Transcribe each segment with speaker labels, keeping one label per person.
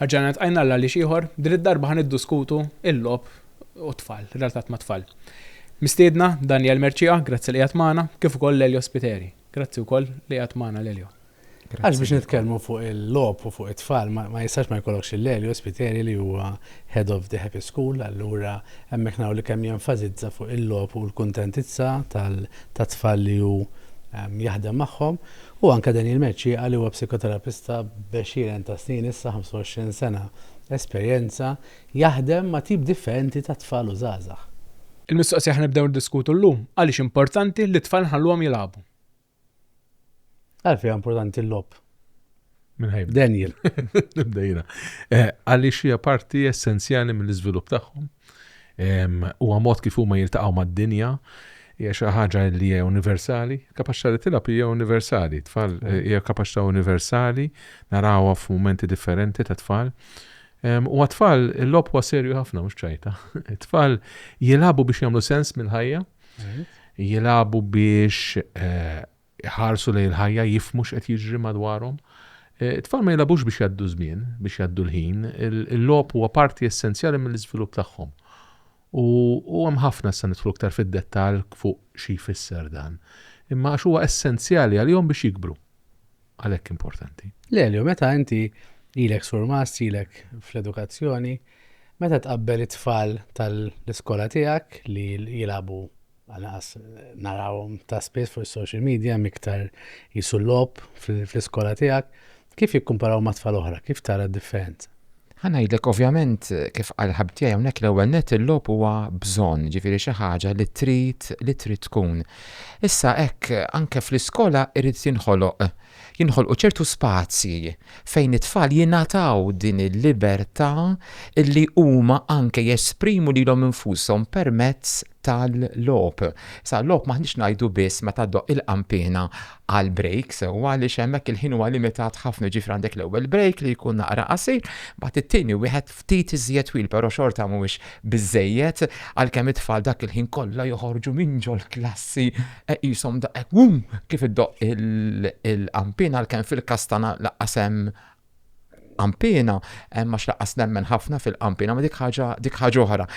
Speaker 1: Ħarġanet għajna l li xieħor, din id-darba ħan id-diskutu il-lob u tfal, relatat ma' tfal. Mistiedna Daniel Merċija, grazzi li jgħat maħna, kif ukoll l-Elio Spiteri. Grazzi wkoll li jgħat maħna l-Elio. Għax biex
Speaker 2: nitkellmu fuq il-logħob u fuq it-tfal ma jistax ma jkollokx lil Elio Spiteri li huwa Head of the Happy School, allura hemmhekk naraw li kemm jenfasizza fuq il-logħob u l-kuntentizza tat-tfal li hu jaħdem magħhom. U anke Daniel Mercieqa li huwa psikoterapista b'għexieren ta' snin issa, 25 sena esperjenza, jaħdem ma' tip differenti ta' tfal u żgħażagħ. Il-mistoqsija ħa
Speaker 1: nibdew niddiskutu llum, għaliex importanti li t-tfal nħalluhom jilagħbu? Għalfejn
Speaker 2: importanti l-lob? Minħajb.
Speaker 3: Daniel.
Speaker 2: Nibdejna.
Speaker 3: Eh, għaliex hija parti essenzjali mill-iżvilupp tagħhom. Huwa mod kif huma jiltaqgħu mad-dinja, hija xi ħaġa li hija universali, kapaċità li tilab hija universali, tfal eh, hija kapaċità universali, narawha f'mumenti differenti ta' tfal. U għatfall, il-lob huwa serju ħafna, mux ċajta. Tfal jilabu biex jamlu sens mill-ħajja, jilagħbu biex jħarsu lejn il-ħajja, jifmu x'qed jiġri madwarhom. It-tfal ma jilagħbux biex jgħaddu żmien, biex jgħaddu l-ħin, il-logħob huwa parti essenzjali mill-iżvilupp tagħhom. U hemm ħafna se nidħlu iktar fid-dettall fuq xi jfisser dan. Imma għax huwa essenzjali għalihom biex jikbru. għalhekk importanti. Lelio, meta inti
Speaker 2: ilek surmast, ilek fl-edukazzjoni, meta tqabbel it-tfal tal-iskola tiegħek li jilabu għanqas narawhom ta' spiss fuq is-social media miktar jisu lob fl-iskola tiegħek, kif jikkumparaw ma' tfal oħra, kif tara d-differenza? Ħa ngħidlek
Speaker 4: ovvjament, kif qal il-ħabib tiegħi hawnhekk, l-ewwel nett il-logħob huwa bżonn, jiġifieri xi ħaġa li trid li trid tkun. Issa hekk anke fl-iskola jrid jinħoloq jinħolqu ċertu spazji fejn it-tfal jingħataw din il-libertà li huma anke jesprimu lilhom infushom permezz tal-logħob. Sa logħob m'aħniex ngħidu biss meta ddoqq il-qanpiena għal break sewwa għaliex hemmhekk il-ħin huwa limitat ħafna ġifri għandek l-ewwel break li jkun naqra qasir, mbagħad it-tieni wieħed ftit iżjed twil però xorta mhuwiex biżżejjed għalkemm it-tfal dak il-ħin kollha joħorġu minn ġol-klassi qishom daqhekk wum kif iddoqq il-qanpiena għalkemm fil-każ tagħna lanqas hemm qampina, għax laqqas nemmen ħafna fil-qampina, ma dik ħaġa dik ħaġa oħra.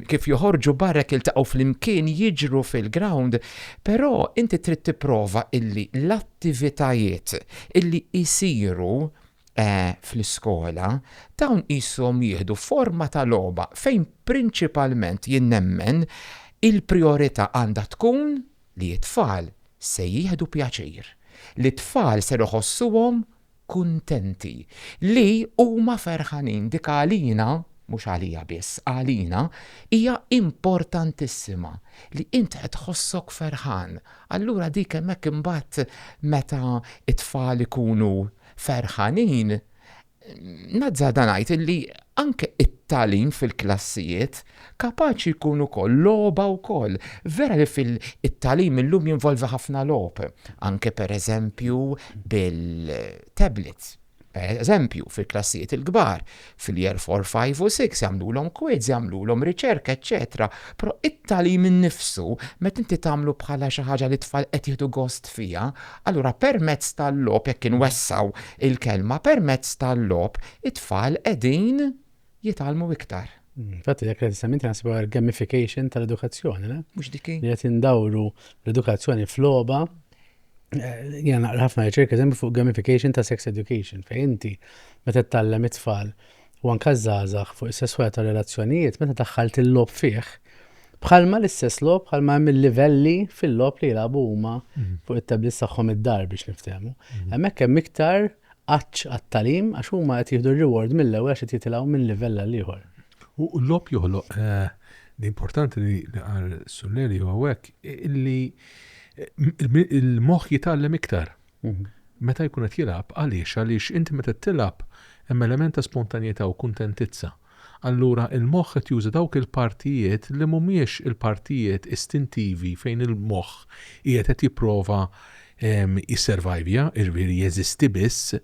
Speaker 4: Kif joħorġu barrek iltaqgħu flimkien jiġru fil-ground, però inti trid tipprova illi l-attivitajiet illi jsiru eh, fl-iskola dawn qishom jieħdu forma ta' logħba fejn prinċipalment jien nemmen il-priorità għandha tkun li t-tfal se jieħdu pjaċir, li t-tfal se iħossuhom kuntenti, li huma ferħanin. Dik għalina, mhux għalija biss, għalina, hija importantissima, li int qed tħossok ferħan. Allura dik hemmhekk imbagħad meta t-tfal ikunu ferħanin, nazzarda ngħid illi anke t-tagħlim fil-klassijiet, Kapaċi jkun ukoll logħba wkoll. Vera li fil, it-tagħlim illum jinvolvi ħafna logħob, anke pereżempju bil-tablets. Pereżempju, fil-klassijiet il-kbar, fil-Year Four, Five u Six jagħmlulhom quiz, jagħmlulhom riċerka, eċċetera. Però it-tagħlim innifsu, meta inti tagħmlu bħala xi ħaġa li t-tfal qed jieħdu gost fiha, allura permezz tal-logħob, jekk inwessgħu l-kelma, permezz tal-logħob, it-tfal qegħdin, jitgħallmu iktar. Infatti dak li qed
Speaker 2: issem inti naħseb huwa l-gamification tal-edukazzjoni, le? Mhux dik hi. Li qed
Speaker 4: indawru
Speaker 2: l-edukazzjoni f'logħba. Jiena naqra ħafna riċerka eżempju fuq gamification ta' sex education fejn inti meta tgħallem it-tfal u anke żgħażagħ fuq is-sesswal ta' relazzjonijiet meta daħħalt il-logħob fih bħalma l-istess logħob bħalma hemm il-livelli fil-logħob li jilagħbu huma mhm. fuq it-tablets tagħhom id-dar biex niftehmu. Mhm. Hemmhekk hemm iktar għatx għat-tagħlim għax huma qed jieħdu r-reward mill-ewwel għax qed jitilgħu minn livell għal ieħor. U l-logħob
Speaker 3: joħloq l-importanti li qal Sulleri huwa hekk illi il-moħħ jitgħallem iktar. Mhm. Meta jkun qed jilgħab għaliex għaliex inti meta tilgħab hemm element ta' spontanjetà u kuntentizza. Allura il-moħħ qed juża dawk il-partijiet li mhumiex il-partijiet istintivi fejn il-moħħ qiegħed qed jipprova jisservajvja, jiġifieri jeżisti biss,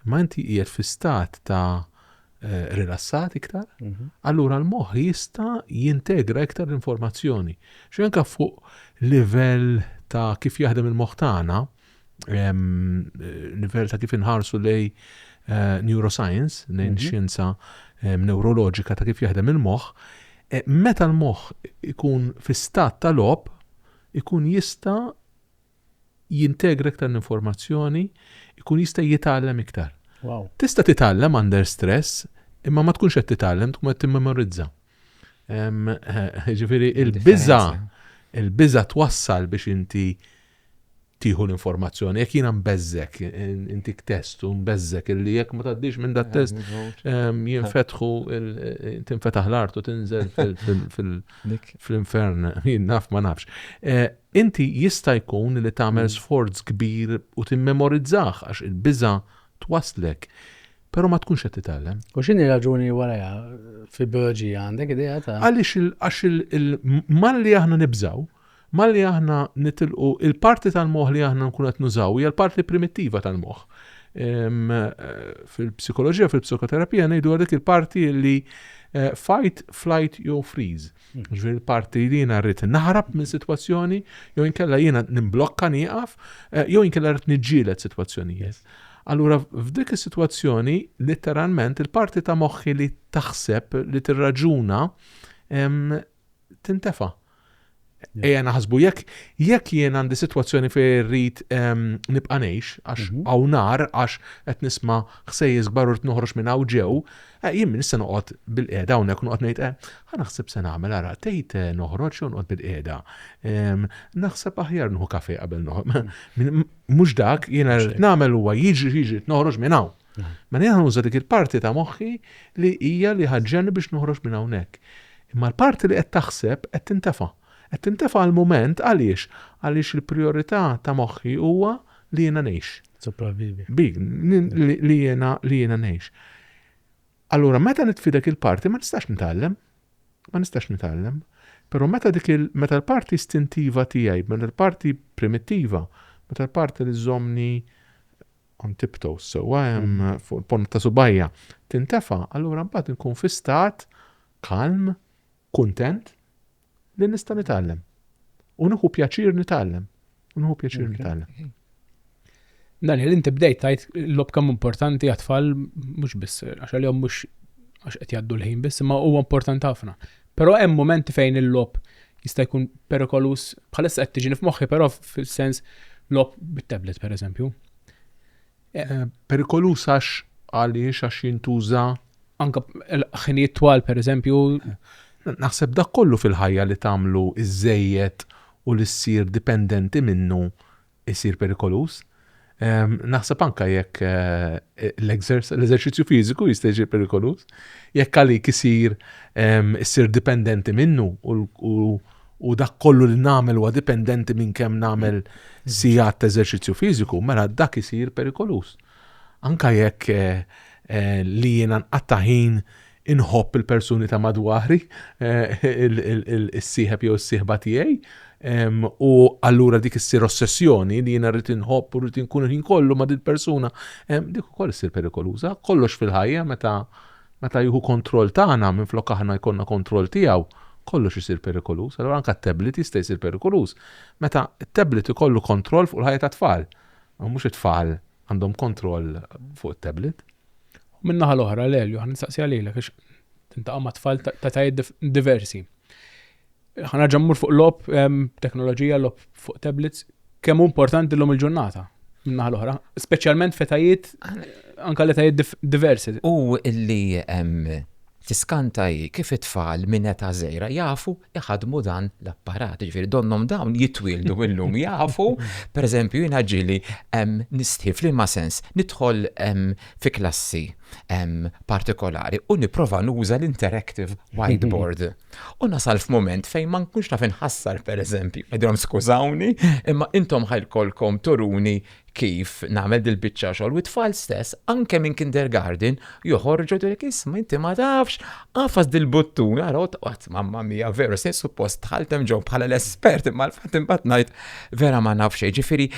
Speaker 3: imma inti qiegħed fi stat ta' rilassat iktar, allura l-moħħ jista' jintegra iktar l-informazzjoni. Xi anke fuq livell ta' kif jaħdem il-moħħ tagħna, livell ta' kif inħarsu lej eh, neuroscience, lejn mhm. xjenza eh, neuroloġika ta' kif jaħdem il-moħħ, eh, meta l-moħħ ikun fi stat ta' lob, ikun jista' jintegra iktar l-informazzjoni, ikun jista' jitgħallem iktar. Wow. Tista'
Speaker 2: titgħallem
Speaker 3: under stress, imma ma tkunx qed titgħallem, tkun qed timmemorizza. Ġifieri il-biża' il-biża' twassal biex inti tieħu l-informazzjoni. Jekk jiena nbeżżek, intik test u nbeżżek illi jekk ma tgħaddix minn dat test jinfetħu tinfetaħ l-art u tinżel fil-infern, jien naf ma nafx. Eh, inti jista' jkun li tagħmel mm. sforz kbir u timmemorizzah għax il-biża' twaslek. Pero ma tkunx qed titgħallem. U x'inhi raġuni
Speaker 2: wara fil-bioloġija għandek idea ta' Għaliex għax
Speaker 3: il-malli aħna nibżaw Malli aħna nitilqu, il-parti tal-moħħ li aħna nkunu qed nużaw hija l-parti primittiva tal-moħħ. Fil-psikoloġija, fil-psikoterapija ngħidu dik il-parti li eh, fight, flight jew freeze. Hmm. Ġifieri l-parti li jiena rrid naħrab minn sitwazzjoni jew inkella jiena nimblokka nieqaf eh, jew inkella rrid niġġieled sitwazzjonijiet. Allura f'dik is-sitwazzjoni letteralment il-parti ta' moħħi li taħseb li tirraġuna tintefa'. Ejja naħsbu jekk jekk jien għandi sitwazzjoni fejn irrid nibqa' ngħix għax mhm. hawn nar għax qed nisma' ħsejjes kbar u rid noħroġ minn hawn ġew, eh, jien min issa noqgħod bil-qiegħda hawnhekk noqgħod ngħid eh, ħa naħseb se nagħmel ara tgħid eh, noħroġ jew noqgħod bil-qiegħda. Ehm, naħseb aħjar nħu kafe qabel noħroġ. Mhux dak jiena rrid nagħmel huwa jiġri jiġri noħroġ minn hawn. Mhm. Mela jiena nuża dik il-parti ta' moħħi li hija li ħaġġen biex noħroġ minn hawnhekk. Imma l-parti li qed taħseb qed tintefa'. Qed tintefa' għall-mument għaliex? Għaliex il-prijorità ta' moħħi huwa li jiena ngħix. Sopravvivi. Bi, li jiena, li jiena ngħix. Allura meta nitfi dak il-parti ma nistax nitgħallem. Ma nistax nitgħallem. Però meta dik il, meta l-parti istintiva tiegħi, meta l-parti primittiva, meta l-parti li żommni on tiptoes sewwa hemm fuq il-ponta ta' subgħajja tintefa' allura mbagħad inkun fi stat kalm, kuntent li nista' nitgħallem. U nieħu pjaċir nitgħallem. U nieħu pjaċir nitgħallem.
Speaker 1: Daniel, inti bdejt tajt l-lob kemm importanti għat-tfal mhux biss għax għalihom mhux għax qed jgħaddu l-ħin biss, imma huwa importanti ħafna. Però hemm mumenti fejn il-logħob jista' jkun perikoluż bħalissa qed tiġini f'moħħi però fis-sens logħob bit-tablet pereżempju. Eh,
Speaker 3: perikoluż għax għaliex għax jintuża anke
Speaker 1: ħinijiet twal pereżempju. Naħseb
Speaker 3: dak kollu fil-ħajja li tagħmlu iżejjed u li ssir dipendenti minnu isir perikoluż. Naħseb anke jekk l-eżerċizzju fiżiku jista' jsir perikoluż, jekk għalik isir issir dipendenti minnu u dak kollu li nagħmel huwa dipendenti minn kemm nagħmel sigħat ta' eżerċizzju fiżiku, mela dak isir perikoluż. Anke jekk li jiena nqatta' ħin Inħobb il-persuni ta' madwari, is-sieħeb jew is-sieħba tiegħi, u allura dik issir ossessjoni li jiena rrid inħobb u rrid inkun il-ħin kollu ma' dil-persuna. Dik ukoll issir perikoluża. Kollox fil-ħajja meta meta jieħu kontroll tagħna minflok aħna jkollna kontroll tiegħu, kollox isir perikoluż. Allura anke t-tablet jista' jsir perikoluż meta t-tablet ikollu kontroll fuq il-ħajja tat-tfal. Mhux it-tfal għandhom kontroll fuq it-tablet. U min-naħa
Speaker 1: l-oħra l-Elju ħan nistaqsi għalilek għax tintaqa' ma' tfal ta' tajiet diversi. Ħan nerġa' mmur fuq lob teknoloġija lob fuq tablets kemm importanti l-lum il-ġurnata min-naħa l-oħra, speċjalment fetajiet anka l tajiet diversi. U illi
Speaker 4: tiskanta kif it-tfal minn eta' żejra jafu iħaddmu dan l-apparat. Jiġifieri donnhom dawn jitwieldu illum jafu, pereżempju jiena ġieli nistħi f'liema sens nidħol fi klassi partikolari u nipprova nuża l-interactive whiteboard u nasal f'mument fejn ma nkunx naf inħassar pereżempju, ngħidilhom skużawni imma intom ħa lkollkom turuni Kif nagħmel dil-biċċa xogħol u t-tfal stess anke minn kindergarten joħorġu jgħidulek isma' inti ma tafx, agħfas dil-buttun ara u tqgħod mamma mia veru se suppost dħalt hemm ġo bħala l-espert imma l-fatt imbagħad ngħid vera ma naf xejn. Ġifieri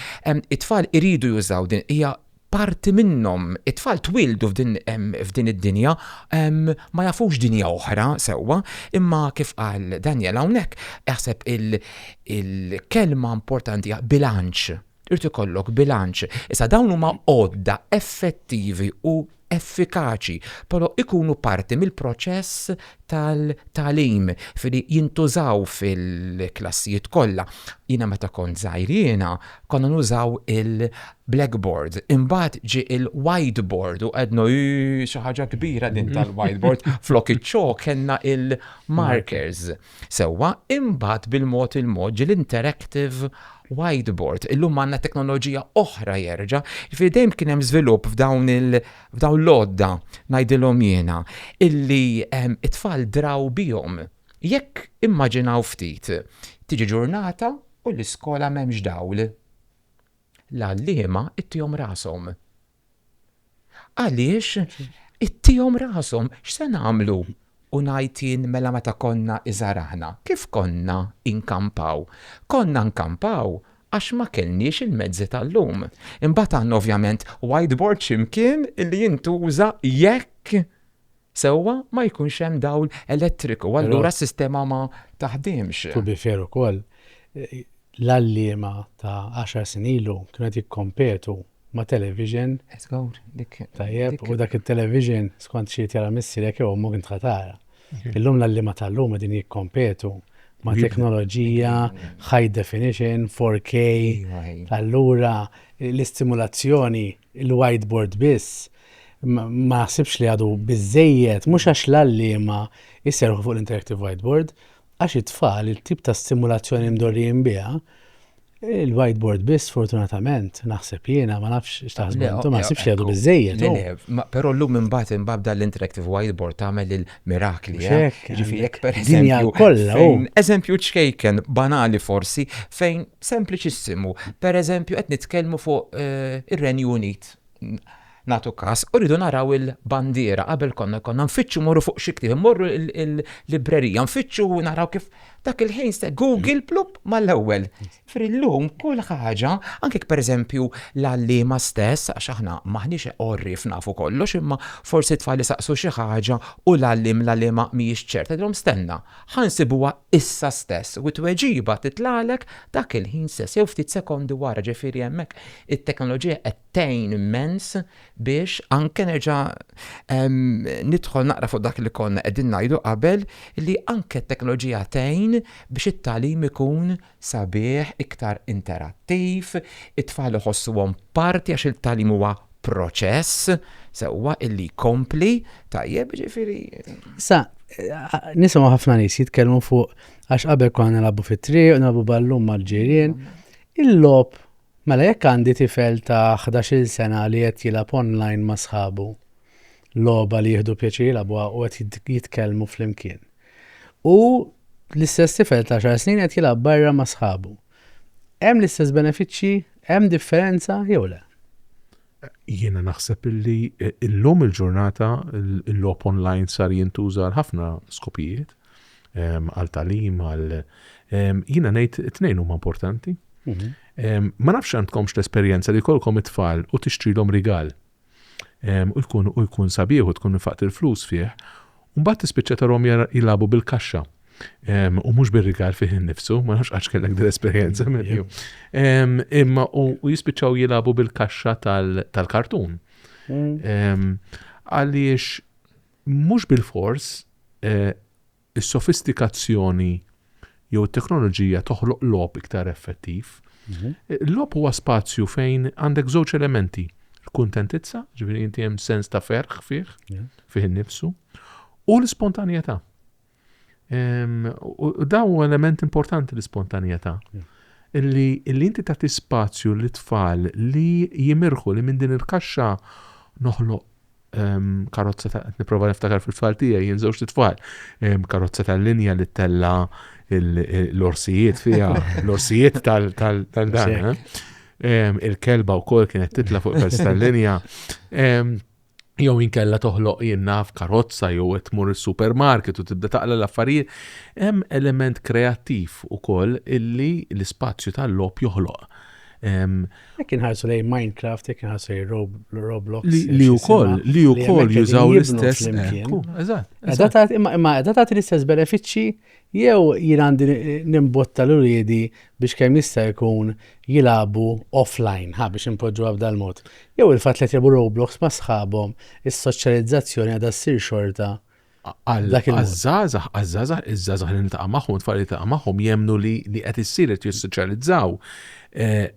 Speaker 4: it-tfal iridu jużaw din hija parti minnhom. It-tfal twieldu f'din id-dinja ma jafux dinja oħra sewwa imma kif qal Daniel hawnhekk naħseb il-kelma importanti hija bilanċ. Irid ikollok bilanċ. Issa dawn huma għodda effettivi u effikaċi, però jkunu parti mill-proċess tal-tagħlim filli jintużaw fil-klassijiet kollha. Jiena meta kont żgħir jiena konna nużaw il-blackboard, imbagħad ġie il-whiteboard u qegħdna eehh xi ħaġa kbira din tal-whiteboard flok iċ-ċok kellna il-markers. Sewwa, imbagħad bil-mod il-mod ġie l-interactive whiteboard. Illum għandna teknoloġija oħra jerġa', jiġifieri dejjem kien hemm żvilupp f'dawn il- f'dawn l-għodda ngħidilhom jiena, illi t-tfal draw bihom. Jekk immaġinaw ftit, tiġi ġurnata u l-iskola m'hemmx dawl. L-għalliema ittihom rashom. Għaliex ittihom rashom, x'se nagħmlu? U ngħid jien mela meta konna iżgħar aħna, kif konna inkampaw? Konna nkampaw għax ma kellniex il-mezzi tal-lum. Imbagħad għandna ovvjament whiteboard xi mkien li jintuża jekk sewwa ma jkunx hemm dawl elettriku allura s-sistema ma taħdimx. To be fair ukoll,
Speaker 2: l-għalliema ta' għaxar snin ilu kienu qed jikkompetu ma' television tajjeb u dak it-television skont xi jrid jara missierek jew ommok int ħa tara. Illum l-għalliema tal-lum qegħdin jikkompetu ma' teknoloġija high definition, 4K, allura l-istimulazzjoni, il-whiteboard biss, ma naħsibx li għadu biżżejjed mhux għax l-għalliema jserħu fuq l-interactive whiteboard għax it-tfal it-tip ta' stimulazzjoni mdorrijin biha il-whiteboard biss fortunatament naħseb jiena ma nafx x'taħsbu intom ma naħsibx li għadu biżejjed. Però llum
Speaker 4: imbagħad imbagħad dan l-interactive whiteboard tagħmel il-mirakli. Eh? Ġifieri jekk pereżempju kollha.
Speaker 2: Oh. Eżempju
Speaker 4: ċkejken banali forsi fejn sempliċissimu. Pereżempju qed nitkellmu fuq eh, ir-Renju Unit nagħtu każ, u rridu naraw il-bandiera, qabel konna konna nfittxu morru fuq xi ktieb, morru l-librerija, nfittxu naraw kif dak il-ħin se Google plup mal-ewwel. Frillum kull ħaġa, anke pereżempju l-għalliema stess, għax aħna m'aħniex għorrief nafu kollox, imma forsi t-tfal isaqsu xi ħaġa u l-għalliem, l-għalliema mhijiex ċerta, tgħidilhom stenna, ħa nsibuha issa stess, u t-tweġiba titlagħlek dak il-ħin stess, jew ftit sekondi wara, ġifieri hemmhekk It-teknoloġija qed tgħin immens biex anke nerġa' nidħol naqra fuq dak li konna qegħdin ngħidu qabel li anke t-teknoloġija tgħin biex it-tagħlim ikun sabiħ, iktar interattiv, it-tfal iħossuhom parti għax il-tagħlim huwa proċess sewwa li jkompli, tajjeb, jiġifieri. Sa,
Speaker 2: nisimgħu ħafna nies jitkellmu fuq għax qabel konna nilagħbu fit-triq, nilagħbu ballum mal-ġirien, il-logħob Mela jekk għandi tifel ta' ħdax-il sena li qed jilgħab online ma' sħabu logħba li jieħdu pjaċir jilgħabuha u qed jitkellmu flimkien, u l-istess tifel ta' għaxar snin qed jilgħab barra ma' sħabu, hemm l-istess benefiċċji? Hemm differenza jew le?
Speaker 3: Jiena naħseb illi illum il-ġurnata l-logħob online sar jintuża għal ħafna skopijiet, ehm, għal talim, għal ehm, jiena ngħid it-tnejn huma importanti. Mhm. Ehm, ma nafx għandkomx l-esperjenza li kolkom it-tfal u tixtrilhom rigal. U jkun u jkun sabiħ u tkun nifaqt il-flus fih U mbagħad tispiċċa tarhom jilagħbu bil-kaxxa u mhux bir-rigal fih innifsu, ma nafx għax kellek din esperjenza minnu. Imma u jispiċċaw jilagħbu bil-kaxxa tal-kartun. Mm. Għaliex mhux bil-fors eh, is-sofistikazzjoni jew it-teknoloġija toħloq logħob iktar effettiv. Il-logħob huwa spazju fejn għandek żewġ elementi, il-kuntentizza, ġifieri inti hemm sens ta' ferħ fih, fih innifsu, u l-ispontanjetà. U daw huwa element importanti l-ispontanjetà. Illi inti tagħti spazju lit-tfal li jimirħu li minn din il-kaxxa noħloq karozza ta' qed nipprova niftakar fil-tfal tiegħi jien żewġ tfal. Karozza tal-linja li tella l-orsijiet fiha, l-orsijiet tal-dan. Eh? Il-kelba wkoll kienet titla fuq pers tal-linja. Jew inkella toħloq jinnaf karozza jew qed tmur is-supermarket u tibda taqla l-affarijiet. Hemm element kreattiv ukoll illi l-ispazju tal-lob joħloq
Speaker 2: Jekk inħarsu lejn Minecraft, jekk inħarsu lejn Roblox. Li wkoll,
Speaker 3: li wkoll jużaw l-istess. Eżatt. Eżatt, imma eżatt tagħti
Speaker 2: l-istess benefiċċji jew jien għandi nimbotta l uriedi biex kemm jista' jkun jilagħbu offline, ha biex impoġġu għabda l-mod. Jew il-fatt li jtibu Roblox ma' sħabhom, is-soċjalizzazzjoni għadha ssir xorta Għaż-żgħażagħ,
Speaker 3: għaż-żgħażagħ, iż-żgħażagħ li niltaqa' magħhom, tfal li niltaqa' magħhom jemmnu li li qed issir qed jissoċjalizzaw eh,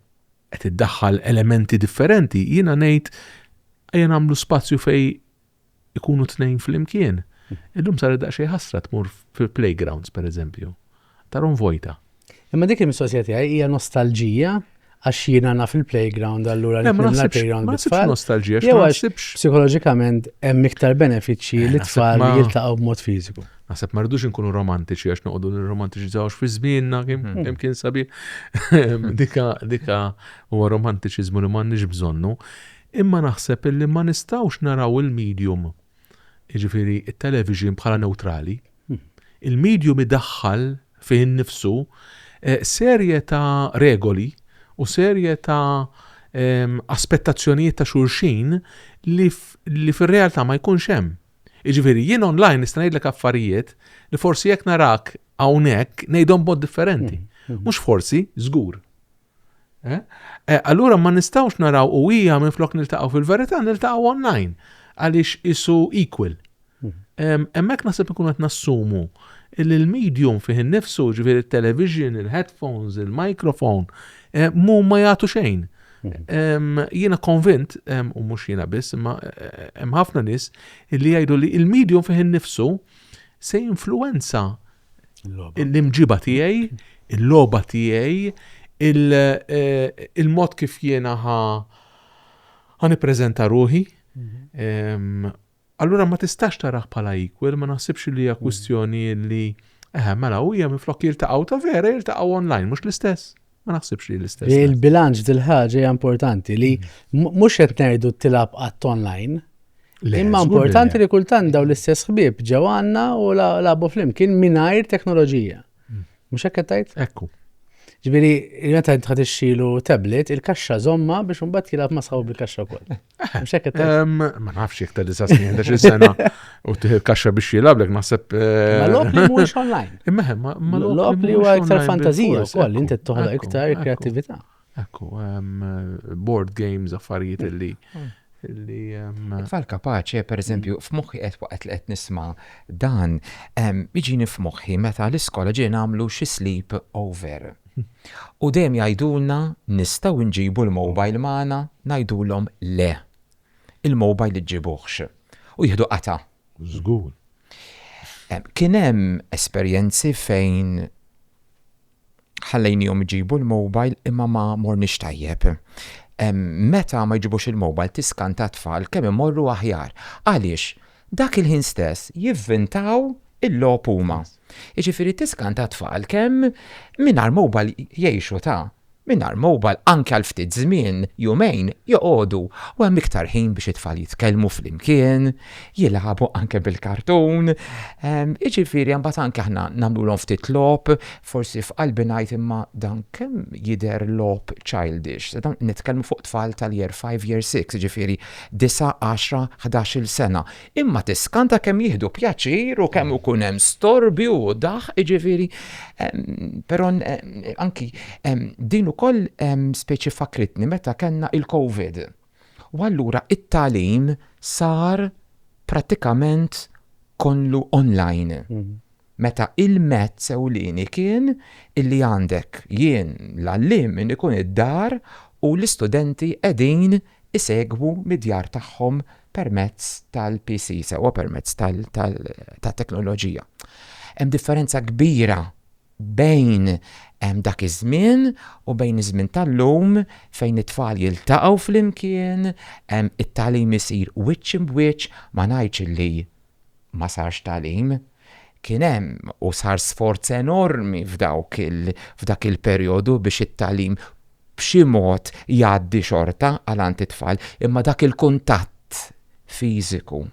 Speaker 3: qed iddaħħal elementi differenti, jiena ngħid ejja nagħmlu spazju fej ikunu tnejn flimkien. Illum sar daqsxejn ħasra tmur fil-playgrounds pereżempju. ta' Ron Vojta. Imma dik il-mistoqsija
Speaker 2: tiegħi hija nostalġija għax jiena naf il-playground allura Le, ma nitmilla naħsibx- l-playground ma naħsibx bit-tfal. nostalġija, Jew ma għax naħsibx- psikoloġikament hemm iktar benefiċċji Eh, li naħseb tfal ma- jiltaqgħu b'mod fiżiku. Naħseb ma rridux inkunu
Speaker 3: romantiċi għax noqogħdu nirromantiċizzawx fi żmienna kemm Mhm. kemm kien sabiħ. dika dika huwa romantiċiżmu li m'għandniex bżonnu. Imma naħseb illi ma nistgħux naraw il-medium jiġifieri it-television bħala neutrali. Il-medium idaħħal fih innifsu serje ta' regoli u serje ta' aspettazzjonijiet ta' xulxin li fir-realtà ma jkunx hemm. Jiġifieri, jien online nista' ngħidlek affarijiet li forsi jekk narak hawnhekk ngħidhom b'mod differenti. Mhux forsi, żgur. Eh? Eh, allura ma nistawx naraw u hija minn flok niltaqgħu fil-verità niltaqgħu online għaliex isu equal. Mhm. Hemmhekk naħseb ikun qed nassumu li l-medium fih innifsu ġifieri il-television, il-headphones, il-microphone, eh, mu ma jagħtu xejn. Mhm. Jiena konvint, u mhux jiena biss, imma eh, hemm ħafna nies li jgħidu li il-medium fih innifsu se influenza l-imġiba tiegħi, il-logħba tiegħi, il-mod kif jiena ħa nippreżenta ruħi. Mhm. Allura ma tistax taraħ bħala equal, ma naħsibx li hija mhm. kwistjoni li eħe, mela u hija minflok jiltaqgħu ta' vera jiltaqgħu online, mhux l-istess. Ma naħsibx li l-istess. Il-bilanċ dil-ħaġa
Speaker 2: hija importanti li mm. mhux qed ngħidu tilab qatt online. Imma importanti li kultant daw l-istess ħbieb ġew għandna u labu flimkien mingħajr teknoloġija. Mm. Mhux hekk qed tgħid? Ekku.
Speaker 3: Ġifieri,
Speaker 2: meta tħad ixxilu tablet, il-kaxxa żomma biex imbagħad jilgħab ma' sħabu bil-kaxxa wkoll. Ma nafx jek ta' disa
Speaker 3: snin, ta' sena u kaxxa biex jilablek, naħseb. Eh, ma
Speaker 2: lok li mhuwiex online. Imma ma
Speaker 3: lok li huwa
Speaker 2: iktar fantazija wkoll, inti toħloq iktar kreativita. Ekku,
Speaker 3: board games, affarijiet mm. li
Speaker 4: mm. li. Tfal kapaċi, per eżempju, mm. f'moħħi qed waqt li qed nisma' dan, jiġini f'moħħi meta l-iskola ġie nagħmlu xi sleep over. U dejjem jgħidulna nistgħu nġibu l-mobile magħna, ngħidulhom le. Il-mobile iġġibuhx. U jieħdu qatgħa. Żgur. Kien hemm esperjenzi fejn ħallejniehom iġibu l-mobile imma ma morniex tajjeb. Meta ma jġibux il-mobile tiskanta t-tfal kemm imorru aħjar. Għaliex, dak il-ħin stess jivvintaw il-logħob huma. Jiġifieri tiskan ta' tfal kemm mingħajr mobile jgħixu ta' mingħajr mobile anke għal ftit żmien, jumejn, joqogħdu u hemm iktar ħin biex it-tfal jitkellmu flimkien, jilagħbu anke bil-kartun. Jiġifieri mbagħad anke aħna nagħmlulhom ftit logħob, forsi f'qalbi ngħid imma dan kemm jidher logħob childish. Nitkellmu fuq tfal tal-year five, year six, jiġifieri disa', għaxra, ħdax-il sena. imma tiskanta kemm jieħdu pjaċir u kemm ikun hemm storbju u daħ, jiġifieri però anki din ukoll speċi fakritni meta kellna il-COVID. U allura it-tagħlim sar prattikament kollu online. Meta il-mezz ewlieni kien illi għandek jien l-għalliem minn ikun id-dar u l-istudenti qegħdin isegwu mid-djar tagħhom permezz tal-PC sewwa permezz tat-teknoloġija. Hemm differenza kbira bejn dak iż-żmien u bejn iż-żmien tal-lum fejn it-tfal jiltaqgħu flimkien, it-tagħlim isir wiċċ imb'wiċċ, ma ngħidx illi ma sarx tagħlim. Kien hemm u sar sforz enormi f'dawk il, f'dak il-perjodu biex it-tagħlim b'xi mod jgħaddi xorta għal għand it-tfal, imma dak il-kuntatt fiżiku,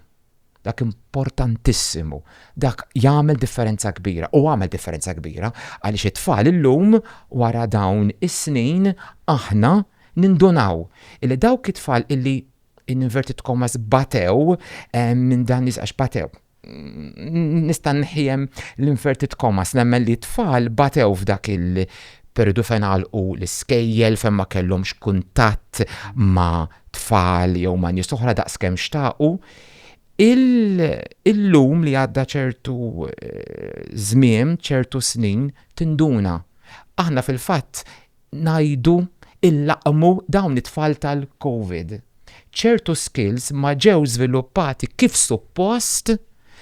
Speaker 4: dak importantissimu, dak jagħmel differenza kbira u għamel differenza kbira għaliex it-tfal illum wara dawn is-snin aħna nindunaw illi dawk it-tfal illi in inverted commas batew minn dan nies għax batew. Nista' nħiem l-inverted commas nemmen li tfal batew f'dak il periodu fejn għalqu l-iskejjel fejn ma kellhomx kuntatt ma' tfal jew ma' nies oħra daqskemm xtaqu. Il-lum li għadda ċertu eh, żmien, ċertu snin, tinduna. Aħna fil-fatt ngħidu nlaqqmu dawn it-tfal tal-Covid. Ċertu skills ma ġew żviluppati kif suppost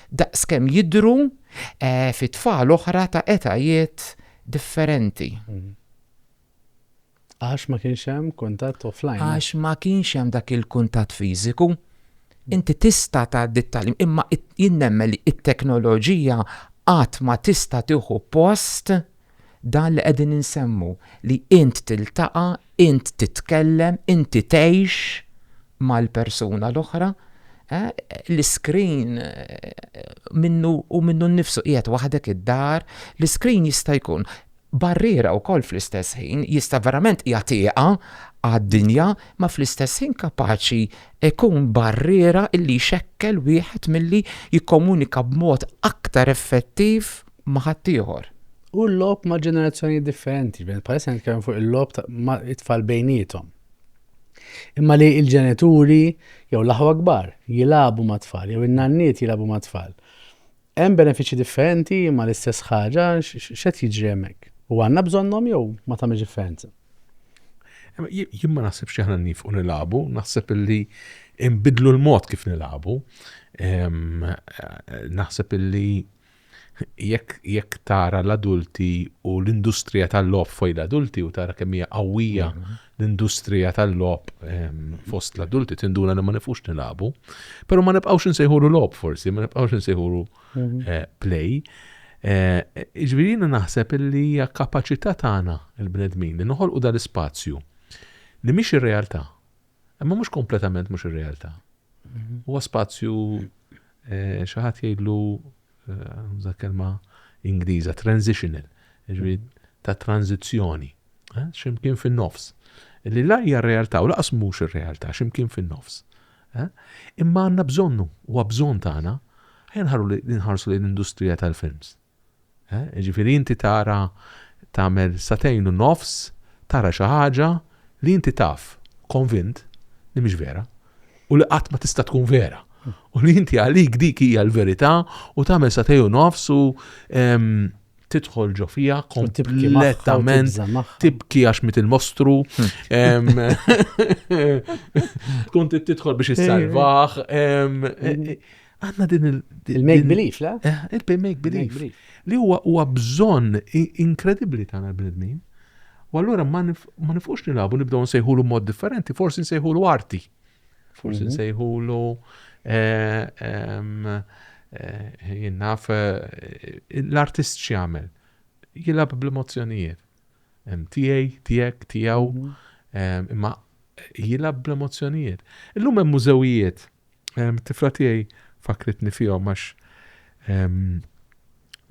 Speaker 4: daqs kemm jidhru fi tfal oħra ta' etajiet differenti.
Speaker 2: Għax ma kienx hemm kuntatt offline. Għax ma kienx hemm
Speaker 4: dak il-kuntatt fiżiku. Inti tista' tgħaddi t-tagħlim imma jien nemmen li t-teknoloġija qatt ma tista' tieħu post Dan li qegħdin insemmu li int tiltaqa', int titkellem, inti tgħix mal-persuna l-oħra, eh, l-iskrin eh, minnu u minnu nnifsu qiegħed waħdek id-dar, l-iskrin jista' jkun barriera wkoll fl-istess ħin jista' verament jagħtiha għad-dinja ma fl-istess ħin kapaċi ikun barriera illi xekkel wieħed milli jikkomunika b'mod aktar effettiv ma' ħaddieħor. U l-logħob ma'
Speaker 2: ġenerazzjonijiet differenti, ġifieri bħalissa nitkellmu fuq il-logħob ma' it-tfal bejniethom. Imma li l-ġenituri jew l-aħwa kbar jilagħbu ma' tfal jew in-nanniet jilagħbu ma' tfal. Hemm benefiċċji differenti imma l-istess ħaġa x'qed jiġri hemmhekk. U għandna bżonnhom jew ma tagħmilx differenza.
Speaker 3: Jien ma naħsibx li aħna nifqu nilagħbu, naħseb illi nbidlu l-mod kif nilagħbu. Naħseb illi Jekk jekk tara l-adulti u l-industrija tal-logħob foj l-adulti u tara kemm hija qawwija l-industrija tal-logħob fost l-adulti tinduna li ma nifux nilagħbu. Però ma nibqgħux insejħulu logħob forsi, ma nibqgħux insejħulu eh, play. Eh, Ġifieri jiena naħseb li hija kapaċità tagħna il-bnedmin li noħolqu dal-ispazju li mhix ir-realtà Imma mhux kompletament mhux ir-realtà. Mhm. Huwa spazju eh, xi ħadd jgħidlu eh, kelma Ingliża transitional, ġifieri ta' tranzizzjoni, eh, x'imkien fin-nofs. Li la hija r-realtà u laqas mhux ir-realtà x'imkien fin-nofs. Imma għandna bżonnu, huwa bżonn tagħna, ħarru li nħarsu l-industrija tal-films. Jiġifieri inti tara tagħmel sagħtejn u nofs tara xi ħaġa li inti taf, konvint, li mhix vera u li qatt ma tista' tkun vera. U li inti għalik dik hija l-verità u tagħmel sagħtejn u nofs u tidħol ġo fiha kompletament tibki għax mit il-mostru. Tkun tidħol biex issalvah. Għanna din il- Il-make belief,
Speaker 2: le? Eh, il-make belief.
Speaker 3: Li huwa huwa bżonn inkredibbli tagħna l-bnedmin. U allura ma nifqux nilabu nibdew nsejħulu mod differenti, forsi nsejħulu arti. Forsi mhm. nsejħulu eh, eh, jinnaf eh, l-artist x'jagħmel. Jilab bl-emozzjonijiet. tiegħi, tiegħek, tiegħu, imma jilgħab bl-emozzjonijiet. Illum hemm mużewijiet, tifla tiegħi fakritni fihom għax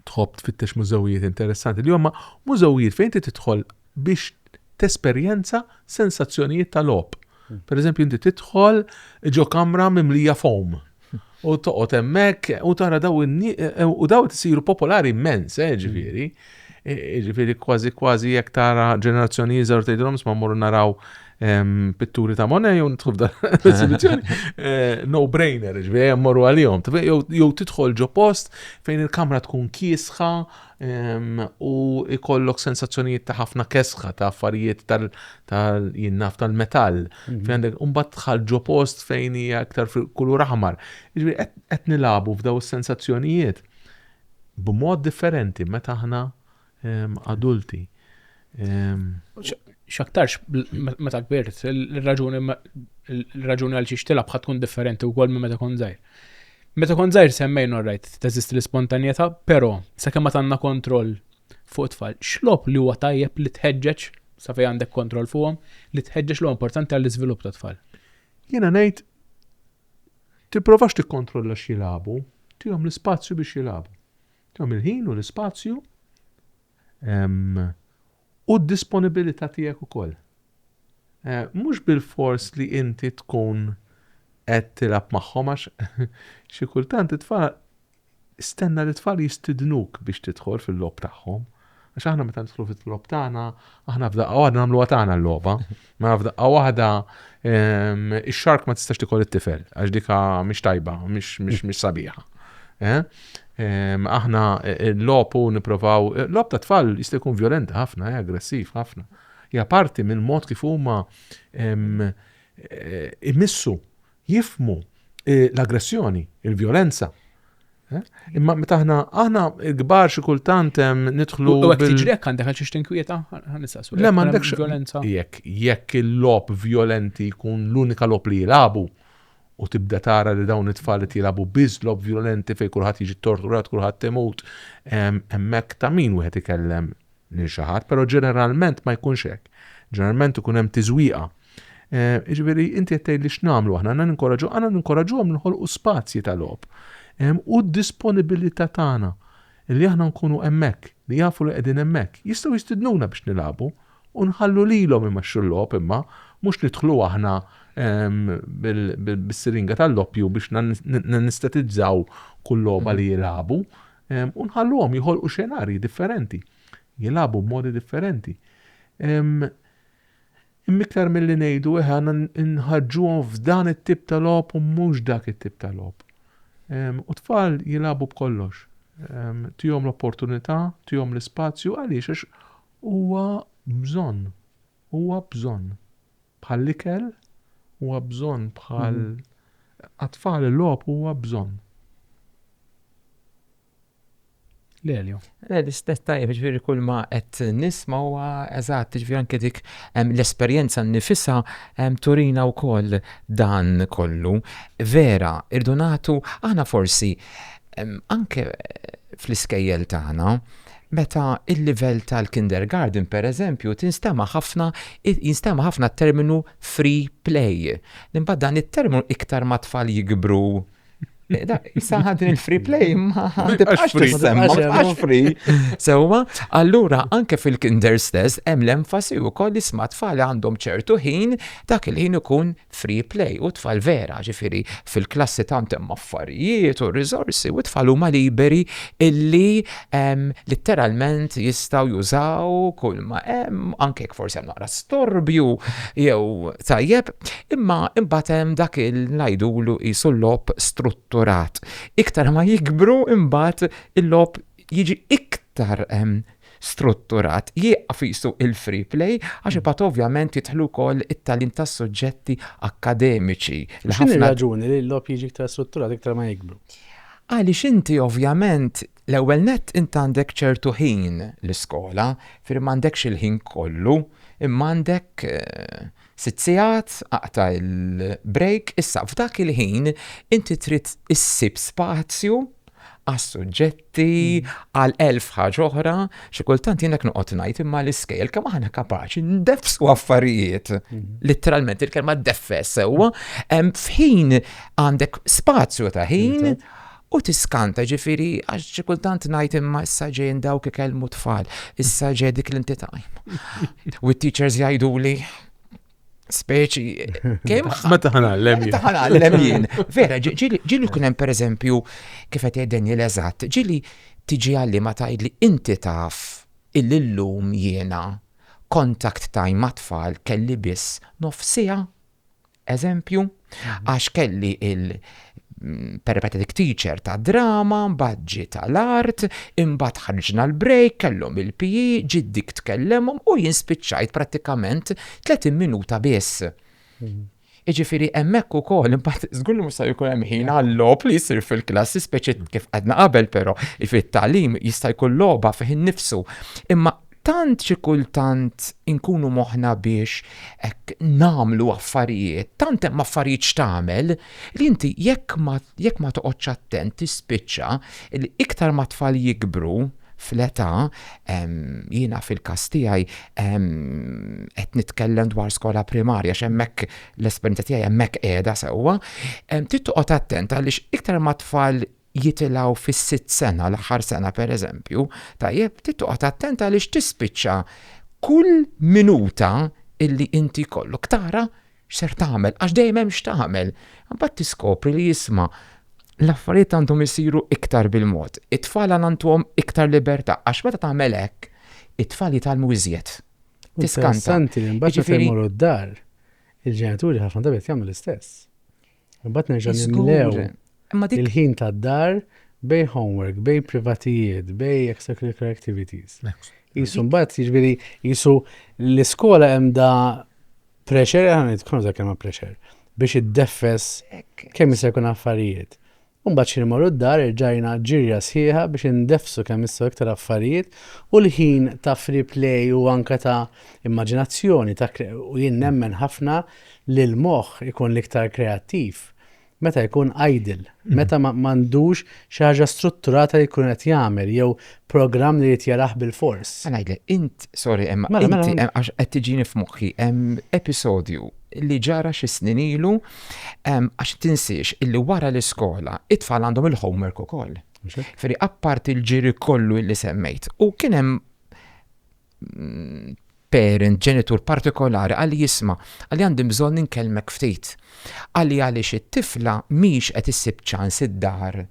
Speaker 3: tħobb tfittex mużewijiet interessanti li huma mużewijiet fejn inti tidħol biex tesperjenza sensazzjonijiet tal-logħob. Hmm. Per eżempju, inti tidħol ġo kamra mimlija foam. U toqgħod hemmhekk u tara daw u daw qed isiru popolari immens, eh, ġifieri. E, e, ġifieri kważi kważi jekk tara ġenerazzjoni iżgħar tgħidilhom ma mmorru naraw pitturi ta' Monet jew nidħlu f'dan e, no brainer, ġifieri mmorru għalihom. Jew tidħol ġo post fejn il-kamra tkun kiesħa, u jkollok sensazzjonijiet ta' ħafna kesħa ta' affarijiet tal-jinnaf tal-metall. Mhm. Fejn għandek umbat tħal ġo post fejn hija aktar fil-kulur aħmar. Iġbi qed nilabu f'daw is-sensazzjonijiet b'mod differenti meta aħna adulti. Ehm,
Speaker 1: x'aktarx meta kbirt, il-raġuni il-raġuni għal xiex tilab tkun differenti wkoll minn meta kont żgħir. Meta kont żgħir semmejn orrajt teżisti l-ispontanjetà, però sakemm ma tandna kontroll fuq tfal, x'lob li huwa tajjeb li tħeġġeġ sa fejn għandek kontroll fuqhom li tħeġġeġ li importanti għall-iżvilupp ta' tfal. Jiena ngħid tipprovax
Speaker 3: tikkontrolla x'jilagħbu, tihom l-ispazju biex jilagħbu. Tihom il-ħin u l-ispazju U d-disponibilità tiegħek ukoll. Mhux bilfors li inti tkun qed tilgħab magħhom għax xi kultant it-tfal stenna li t-tfal jistidnuk biex tidħol fil-logħob tagħhom. Għax aħna meta nidħlu fil-logħob tagħna, aħna f'daqqa waħda nagħmluha tagħna l-logħba. Ma f'daqqa waħda ehm, ix-xark ma tistax tikol it-tifel għax dika mhix tajba, mhix sabiħa. Eh? Ehm, aħna eh, eh, l-lopu niprofaw, eh, l-lop ta' tfal jista' jkun violenti ħafna, aggressiv ħafna. Ja parti mill-mod kif huma ehm, imissu jifhmu l-aggressjoni, il-vjolenza. Imma meta aħna aħna kbar xi kultant nidħlu. U hekk tiġri hekk għandek
Speaker 1: għal xi tinkwieta, nistaqsu. Le m'għandekx violenza.
Speaker 3: Jekk
Speaker 1: jekk
Speaker 3: il-lob violenti jkun l-unika lob li jilagħbu u tibda tara li dawn it-tfal li jilagħbu biss lob violenti fejn kulħadd jiġi torturat, kulħadd imut, hemmhekk ta' min wieħed ikellem lil xi ħadd, però ġeneralment ma jkunx hekk. Ġeneralment ikun hemm tiżwieqa. Jiġifieri inti qed tgħidli x'nagħmlu aħna, għandna ninkoraġġu, għandna ninkoraġġuhom li nħolqu spazji ta' logħob. U d-disponibilità tagħna li aħna nkunu hemmhekk, li jafu li qegħdin hemmhekk. Jistgħu jistidnuna biex nilagħbu u nħallu lilhom imexxu l-logħob imma mhux nidħlu aħna bis-siringa tal-loppju biex nanestetizzaw kull logħba li jilagħbu. u nħalluhom joħolqu xenarji differenti, jilagħbu b'modi differenti. Immiktar milli ngħidu eħe għandna nħarġuhom f'dan it-tip ta' logħob u mhux dak it-tip ta' logħob. U tfal jilagħbu b'kollox. Tihom l-opportunità, tihom l-ispazju għaliex għax huwa bżonn. Huwa bżonn. Bħall-ikel huwa bżonn bħal għat-tfal il-logħob huwa bżonn.
Speaker 1: Lelio. Le, l-istess
Speaker 4: tajjeb, ġifieri kull ma qed nisma' huwa eżatt, ġifieri anke dik l-esperjenza nnifisha turina wkoll dan kollu. Vera, irdu nagħtu aħna forsi anke fl-iskejjel tagħna Meta l-livell tal-kindergarten, pereżempju, tinstema' ħafna jinstema' ħafna t-terminu free play. Imbagħad dan it-terminu iktar ma t-tfal jikbru Saħħa din il-free play ma tibqax free semma, tibqax free. Sewwa, allura anke fil-kinder stess hemm l-enfasi wkoll li sma tfal għandhom ċertu ħin dak il-ħin ikun free play u t-tfal vera, ġifieri fil-klassi tant hemm affarijiet u riżorsi u t-tfal huma liberi illi litteralment jistgħu jużaw kull ma hemm, anke jekk forsi hemm naqra storbju jew tajjeb, imma imbagħad hemm dak il ngħidulu qisu l-logħob strutturat. Iktar ma jikbru imbagħad il-logħob jiġi iktar strutturat, jieqaf qisu il-free play għax imbagħad ovvjament jidħlu wkoll it-tagħlim tas-suġġetti akkademiċi li ħafna. X'inhi r-raġuni
Speaker 2: li l-logħob jiġi iktar strutturat iktar ma jikbru? Għaliex inti
Speaker 4: ovvjament l-ewwel nett int għandek ċertu ħin l-iskola, firri m'għandekx il-ħin kollu, imma għandek Sitt sigħat, aqta' il-break, issa f'dak il-ħin inti trid issib spazju għas-suġġetti, għal elf ħaġa oħra, xi kultant jien hekk noqgħod ngħid imma l-iskejjel kemm aħna kapaċi ndeffsu affarijiet, litteralment il-kelma deffes sewwa, f'ħin għandek spazju ta' ħin U tiskanta, ġifieri, għax xi kultant ngħid imma issa ġejjin dawk ikellmu tfal, issa ġej dik l-inti time. U t-teachers jgħiduli speċi kemm ma taħnallem
Speaker 3: jien. Taħnallem
Speaker 4: jien. Vera, ġili ġili kien hemm pereżempju kif qed jgħidden jien eżatt, ġili tiġi għalli ma tgħidli inti taf il-lum jiena kontakt time ma' tfal kelli biss nofsija eżempju, għax kelli il- peripatetic teacher ta' drama, baġġi tal-art, imbagħad ħarġna l-break, kellhom il-PE, ġiet dik tkellemhom u jien spiċċajt prattikament 30 minuta biss. Mhm. Iġifiri, emmek u kol, imbat, zgullu musa jkun hemm ħin għall-lob li jisir fil-klassi, speċi kif għadna qabel, pero, fit-talim jista' jkun loba fih nifsu. Imma Tant xi kultant inkunu moħħna biex hekk nagħmlu affarijiet, tant hemm affarijiet x'tagħmel, li inti jekk ma jekk ma toqgħodx attent tispiċċa li iktar ma t-tfal jikbru fl-età, jiena fil-każ tiegħi qed nitkellem dwar skola primarja għax hemmhekk l-esperjenza tiegħi hemmhekk qiegħda sewwa, trid toqgħod attent għaliex iktar ma t-tfal jitilgħu fis-sitt sena, l-aħħar sena pereżempju, tajjeb, trid toqgħod attent għaliex tispiċċa kull minuta illi inti jkollok tara x'ser tagħmel għax dejjem hemm x'tagħmel. Imbagħad tiskopri li isma' l-affarijiet għandhom isiru iktar bil-mod. It-tfal għandhom iktar libertà għax meta tagħmel hekk, it-tfal jitgħallmu iżjed. Tiskanta. Santi, imbagħad
Speaker 2: meta jmorru d-dar, il-ġenituri ħafna drabi jagħmlu l-istess. Imbagħad nerġa' nimlew il-ħin tad-dar bej homework, bej privatijiet, bej extracurricular activities. Jisu mbagħad jiġifieri jisu l-iskola hemm da pressure, aħna nitkunu dak kemm pressure biex iddeffes kemm jista' jkun affarijiet. U mbagħad x'ħin imorru d-dar irġajna ġirja sħiħa biex indeffsu kemm jistgħu iktar affarijiet u l-ħin ta' free play u anke ta' immaġinazzjoni ta' u jien nemmen ħafna li l-moħħ ikun l-iktar kreattiv meta jkun idle, meta m'għandux xi ħaġa strutturata li jkun qed jagħmel jew programm li jrid jaraħ bil-fors. Għanajdle, int,
Speaker 4: sorry, emma, mela, mela. inti, għax qed tiġini f'moħħi, episodju li ġara xi snin ilu, għax tinsiex illi wara l-iskola, it-tfal għandhom il-homework ukoll. Ferri, appart il-ġiri kollu illi semmejt. U kien hemm mm, parent, ġenitur partikolari għalli jisma, għalli għandim bżon ninkelmek ftit. Għalli għaliex it-tifla miex qed issib ċans id-dar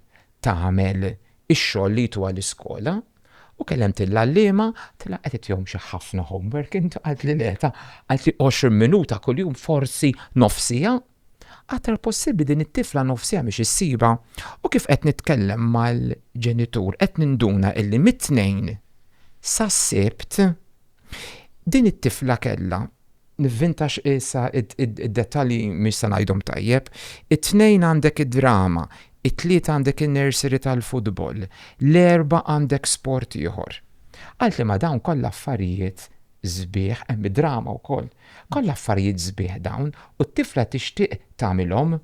Speaker 4: tagħmel ix-xogħol li jtuha l-iskola u kellemt il-għalliema għaltilha qed itihom xi ħafna homework int qaltli le ta' qaltli 20 minuta kuljum forsi nofs siegħa aktar possibbli din it-tifla nofs siegħa mhix issibha u kif qed nitkellem mal-ġenitur qed ninduna illi mit-Tnejn sas-Sibt din it-tifla kellha Nivvintax issa id-dettalji mhix se ngħidhom tajjeb. It-Tnejn għandek id-drama, it-Tlieta għandek in-nursery tal-futbol, l-Erbgħa għandek sport ieħor. Għal tliema dawn kollha affarijiet sbieħ, hemm id-drama wkoll. Kollha affarijiet sbieħ dawn u t-tifla tixtieq tagħmilhom.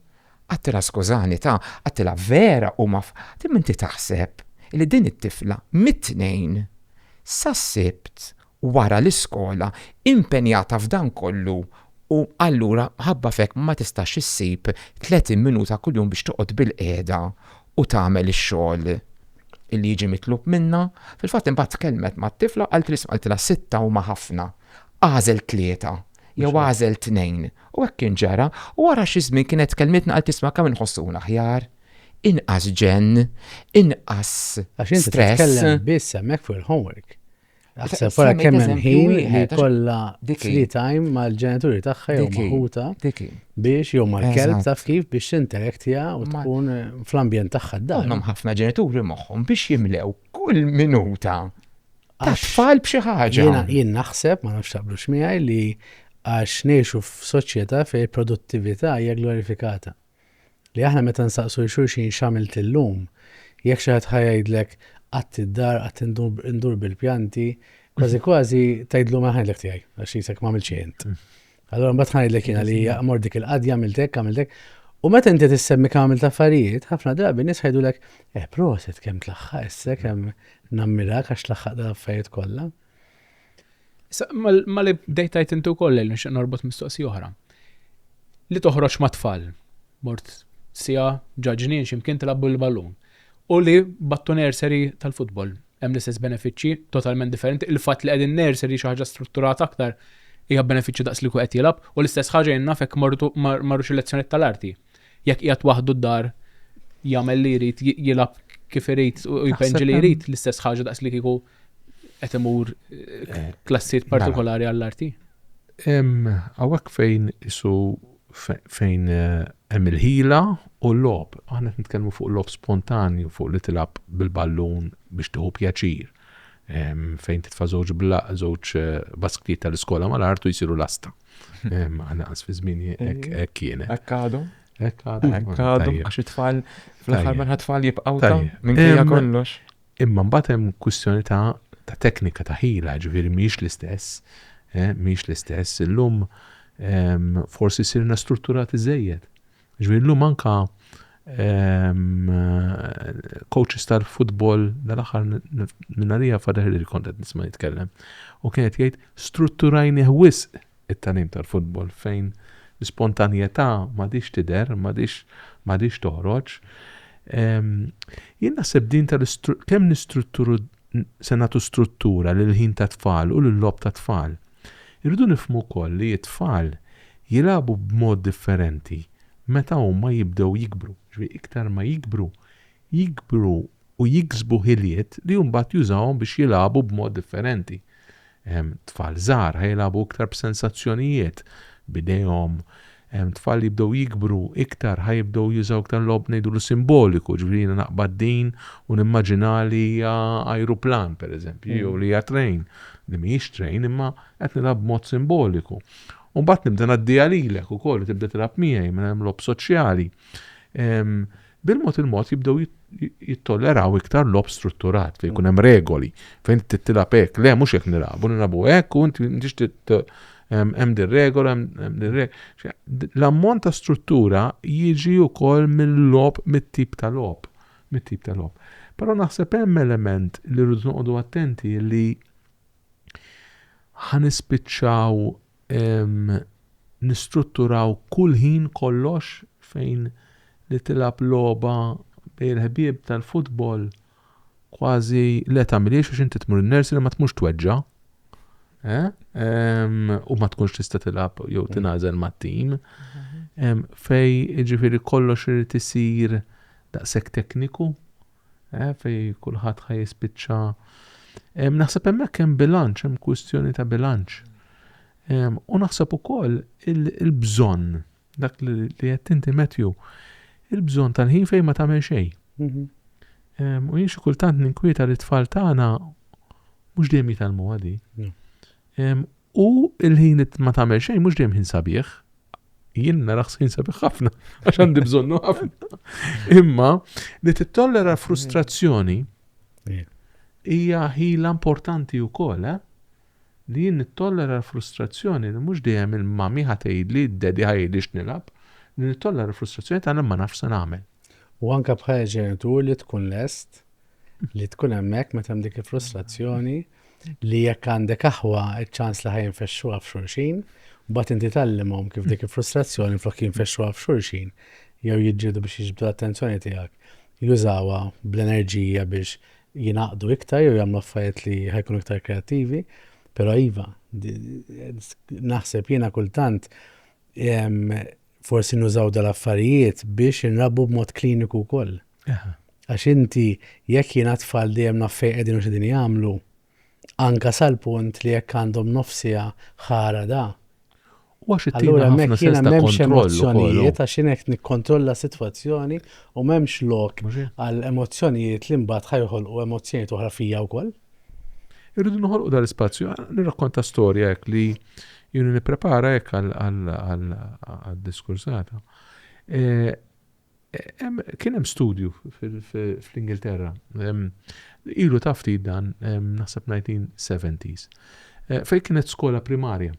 Speaker 4: Għattilha skużani ta, għattilha vera huma Imma inti taħseb li din it-tifla mit-Tnejn sas-Sibt wara l-iskola, impenjata f'dan kollu u allura mħabba f'hekk ma tistax issib 30 minuta kuljum biex toqgħod bilqiegħda u tagħmel ix-xogħol li jiġi mitlub minnha. Fil-fatt imbagħad tkellmet mat-tifla u qaltli isma' qaltilha sitta huma ħafna. Agħżel tlieta jew agħżel tnejn. U hekk kien ġara u wara xi żmien kienet tkellmitni qaltli isma' għalkemm inħossuhna aħjar, inqas ġenn, inqas stress. Għax inti titkellem biss
Speaker 2: hemmhekk fuq il-homework. Aħseb wara kemm hemm ħin li kollha free time mal-ġenituri tagħha jew maħuta biex jew mal-kelb taf kif biex tinterektja u tkun fl-ambjent tagħha d-dar. Hemm ħafna ġenituri
Speaker 4: moħħhom biex jimlew kull minuta tfal b'xi ħaġa. Jien naħseb, ma
Speaker 2: nafx taqblu x'miegħi li għax ngħixu f'soċjetà fejn produttività hija glorifikata. Li aħna meta nsaqsu 'l xulxin x'għamilt illum, jekk xi ħadd ħa jgħidlek qatt id-dar, qatt indur bil-pjanti, kważi kważi tgħidlu mela ħa ngħidlek tiegħi, għax jisek m'għamilt xejn int. Allura mbagħad ħa ngħidlek jiena li mort dik il-qadja għamilt hekk, għamilt hekk. U meta inti tissemmi kemm għamilt affarijiet, ħafna drabi nies ħajdulek, eh proset kemm tlaħħaq issek hemm nammirak għax tlaħħaq dal-affarijiet kollha.
Speaker 1: Ma li bdejtajt inti wkoll li nixtieq norbot mistoqsi oħra. Li toħroġ ma' tfal, mort sija ġaġnin x'imkien tilabbu l-ballun. U li battu nursery tal-futbol hemm l-istess benefiċċji totalment differenti. Il-fatt li qegħdin nursery xi ħaġa strutturata aktar hija benefiċċju daqs li qed jilgħab u l-istess ħaġa jien naf jekk mortu marrux il-lezzjonijiet tal-arti. Jekk qiegħed waħdu d-dar jagħmel li jrid jilgħab kif irid u jpenġi li jrid l-istess ħaġa daqs li kieku qed imur eh, klassijiet mela. partikolari għall-arti?
Speaker 3: Għawek fejn isu fejn eh, hemm il-ħila u l-lob. Aħna qed nitkellmu fuq lob spontanju, fuq li tilab bil-ballun biex tieħu pjaċir. Fejn titfa' żewġ bla żewġ eh, basktiet tal-iskola mal-artu jsiru lasta. Għana għas fi żmien hekk kienet. Hekk għadhom.
Speaker 4: Hekk għadhom. Hekk għadhom għax it-tfal fl-aħħar minn tfal jibqgħu minn kollox. Imma mbagħad hemm
Speaker 3: kwistjoni ta' ta' teknika ta' ħila, ġifieri mhijiex l-istess, eh, mhijiex l-istess. Illum ehm, forsi sirna strutturati żejjed. Ġifieri llum anka ehm, coaches tal-futbol dal-aħħar minnarija fadeħ li kont qed nisma' jitkellem. U kienet jgħid strutturajni wisq it-tagħlim tal-futbol fejn l-ispontanjetà m'għadhiex tidher, m'għadhiex m'għadhiex toħroġ. Ehm, jien naħseb din tal kemm nistrutturu se nagħtu struttura lil ħin ta' tfal u lil lob ta' tfal. Irridu nifhmu wkoll li t-tfal jilagħbu b'mod differenti meta huma jibdew jikbru. Ġifieri iktar ma jikbru, jikbru u jiksbu ħiliet li mbagħad jużawhom biex jilagħbu b'mod differenti. Tfal żgħar ħa jilagħbu iktar b'sensazzjonijiet, b'idejhom. Tfal li jibdew jikbru iktar ħa jibdew jużaw iktar logħob ngħidulu simboliku, ġifieri jiena naqbad din u nimmaġina li hija ajruplan pereżempju jew li hija train, li mhijiex train imma qed nilgħab b'mod simboliku. U mbagħad nibda ngħaddiha lilek ukoll u tibda tilgħab miegħi mela hemm logħob soċjali. Bil-mod il-mod jibdew jittolleraw iktar logħob strutturat fejn jkun hemm regoli, fejn inti tilgħab hekk, le mhux hekk nilagħbu, nilagħbu hekk u inti m'intix hemm din regola, hemm din regola. L-ammont ta' struttura jiġi wkoll mill-logħob, mit-tip ta' logħob, mit-tip ta' logħob. Però naħseb hemm element li rridu noqogħdu attenti li ħa nispiċċaw Nistrutturaw kull ħin kollox fejn li tilgħab logħba bejn il-ħbieb tal-futbol kważi le tagħmilhiex għax inti tmur in-nursery ma tmurx tweġġa' u ma tkunx tista' tilgħab jew tingħażel mat-tim. Fejn jiġifieri kollox irid isir daqshekk tekniku eh, fej kulħadd ħaj jispiċċa. Naħseb hemmhekk hemm bilanċ, hemm kwistjoni ta' bilanċ. U naħseb ukoll il-bżonn, dak li qed inti Matthew, il-bżonn tal-ħin fejn ma tagħmel xejn. Mhm. U jien xi kultant ninkwieta li tfal tagħna mhux dejjem jitalmu għadi. U il-ħin li ma tagħmel xejn mhux dejjem ħin sabiħ. Jien naraħ ħin sabiħ ħafna għax għandi bżonnu ħafna. Imma li tittollera frustrazzjoni hija ħila importanti wkoll, eh? li jien nittollera l-frustrazzjoni li mhux dejjem il-mami ħatejli, d-dedi ħajli x'nilab, li nittollera l-frustrazzjoni ta' ma nafx se nagħmel. U anke bħala
Speaker 2: ġenitur li tkun lest li tkun hemmhekk meta hemm dik il-frustrazzjoni li jekk għandek aħwa iċ-ċans li ħa jinfexxuha f'xulxin, mbagħad inti tgħallimhom kif dik il-frustrazzjoni flok jinfexxuha f'xulxin jew jiġġieldu biex jiġbdu l-attenzjoni tiegħek, jużawha bl-enerġija biex jingħaqdu iktar jew jagħmlu affarijiet li ħajkunu iktar kreattivi. Però iva, naħseb jiena kultant Forsi nużaw dal-affarijiet biex inrabbu b'mod kliniku wkoll. Għax inti jekk jiena tfal dejjem naf fejn qegħdin u x'qegħdin jagħmlu, anke sal-punt li jekk għandhom nofs siegħa ħara da. U għax it-tieqa hemmhekk jiena m'hemmx emozzjonijiet għax jien qed nikkontrolla s-sitwazzjoni u m'hemmx lok għal emozzjonijiet li mbagħad ħajħolqu emozzjonijiet oħra fija wkoll. Irridu
Speaker 3: noħolqu dal-ispazju, nirrakkonta storja hekk li jien nipprepara hekk għal-diskursata. Eh, kien hemm studju fl-Ingilterra, ilu tafti dan naħseb 1970s, eh, fej kienet skola primarja.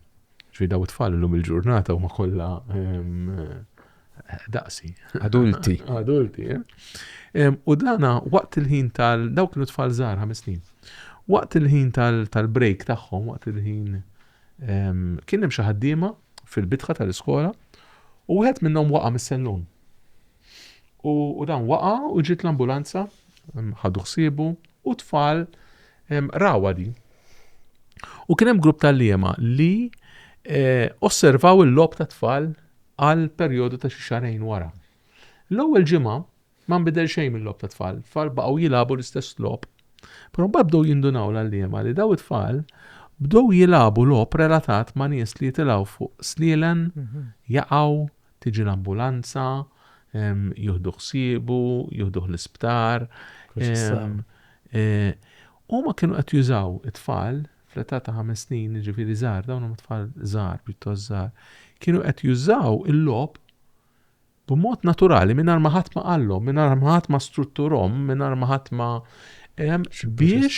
Speaker 3: Ġifieri daw it-tfal illum il-ġurnata huma kollha daqsi. Adulti.
Speaker 4: Adulti,
Speaker 3: eh? U dana waqt il-ħin tal dawk kienu tfal żgħar ħames snin. Waqt il-ħin tal-break tagħhom, waqt il-ħin kien hemm xi ħaddiema fil-bitħa tal-iskola u wieħed minnhom waqa' mis-sellun. U dan waqa' u ġiet l-ambulanza ħadu ħsiebu u tfal Rawadi. U kien hemm grupp tal-liema li eh, osservaw il-logħob tat-tfal għal perjodu ta' xi xarejn wara. L-ewwel ġimgħa ma nbidel xejn mill-logħob tat-tfal, tfal baqgħu jilagħbu l-istess logħob. Però mbagħad bdew jindunaw l-għalliema li daw it-tfal bdew jilagħbu logħob relatat ma' nies li jitilgħu fuq slielen, mhm. jaqgħu, Tiġi l-ambulanza, jieħdu ħsiebu, jieħduh l-isptar. Huma kienu qed jużaw it-tfal fl-età ta' ħames snin, jiġifieri żgħar, dawn huma tfal żgħar, pjuttost żgħar, kienu qed jużaw il-logħob b'mod naturali mingħajr ma ħadd ma qallhom, mingħajr ma ħadd ma strutturhom, mingħajr ma ħadd ma biex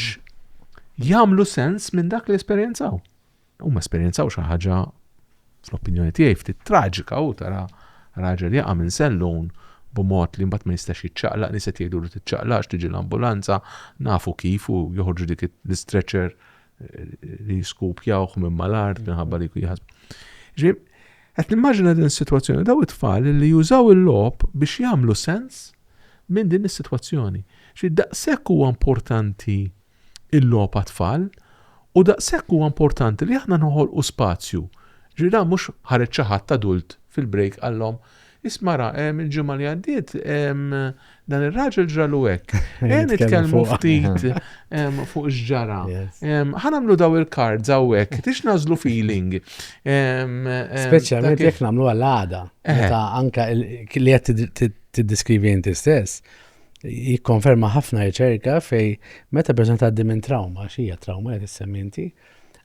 Speaker 3: jagħmlu sens minn dak li esperjenzaw. Huma esperjenzaw xi ħaġa fl-opinjoni tiegħi ftit traġika u tara raġel jaqa' minn sellun b'mod li mbagħad ma jistax jiċċaqlaq li se tgħidu li tiċċaqlaqx tiġi l-ambulanza nafu kif u joħorġu dik l-istretcher eh, li jiskupjawh minn mal-art minħabba li jħasb. Ġib, qed nimmaġina din is-sitwazzjoni daw it-tfal li jużaw il-lob biex jagħmlu sens minn din is-sitwazzjoni. Xi daqshekk huwa importanti il-logħob għat-tfal u daqshekk huwa importanti li aħna noħolqu spazju. Ġifieri dan mhux ħareġ xi ħadd adult fil-break qallhom, Isma' ra, ehm, il-ġimgħa li għaddiet ehm, dan ir-raġel ġralu hekk. Ejja nitkellmu ftit ehm, fuq x'ġara. Ehm, ħa nagħmlu daw il-cards hawnhekk, tix nażlu feeling. Ehm, ehm, Speċjalment
Speaker 2: dak il- jekk nagħmlu għal-għada, Eh. meta anka il- li qed tiddiskrivi inti stess, jikkonferma ħafna riċerka fejn meta persuna tgħaddi minn trawma, xija trawma li tissemmi inti,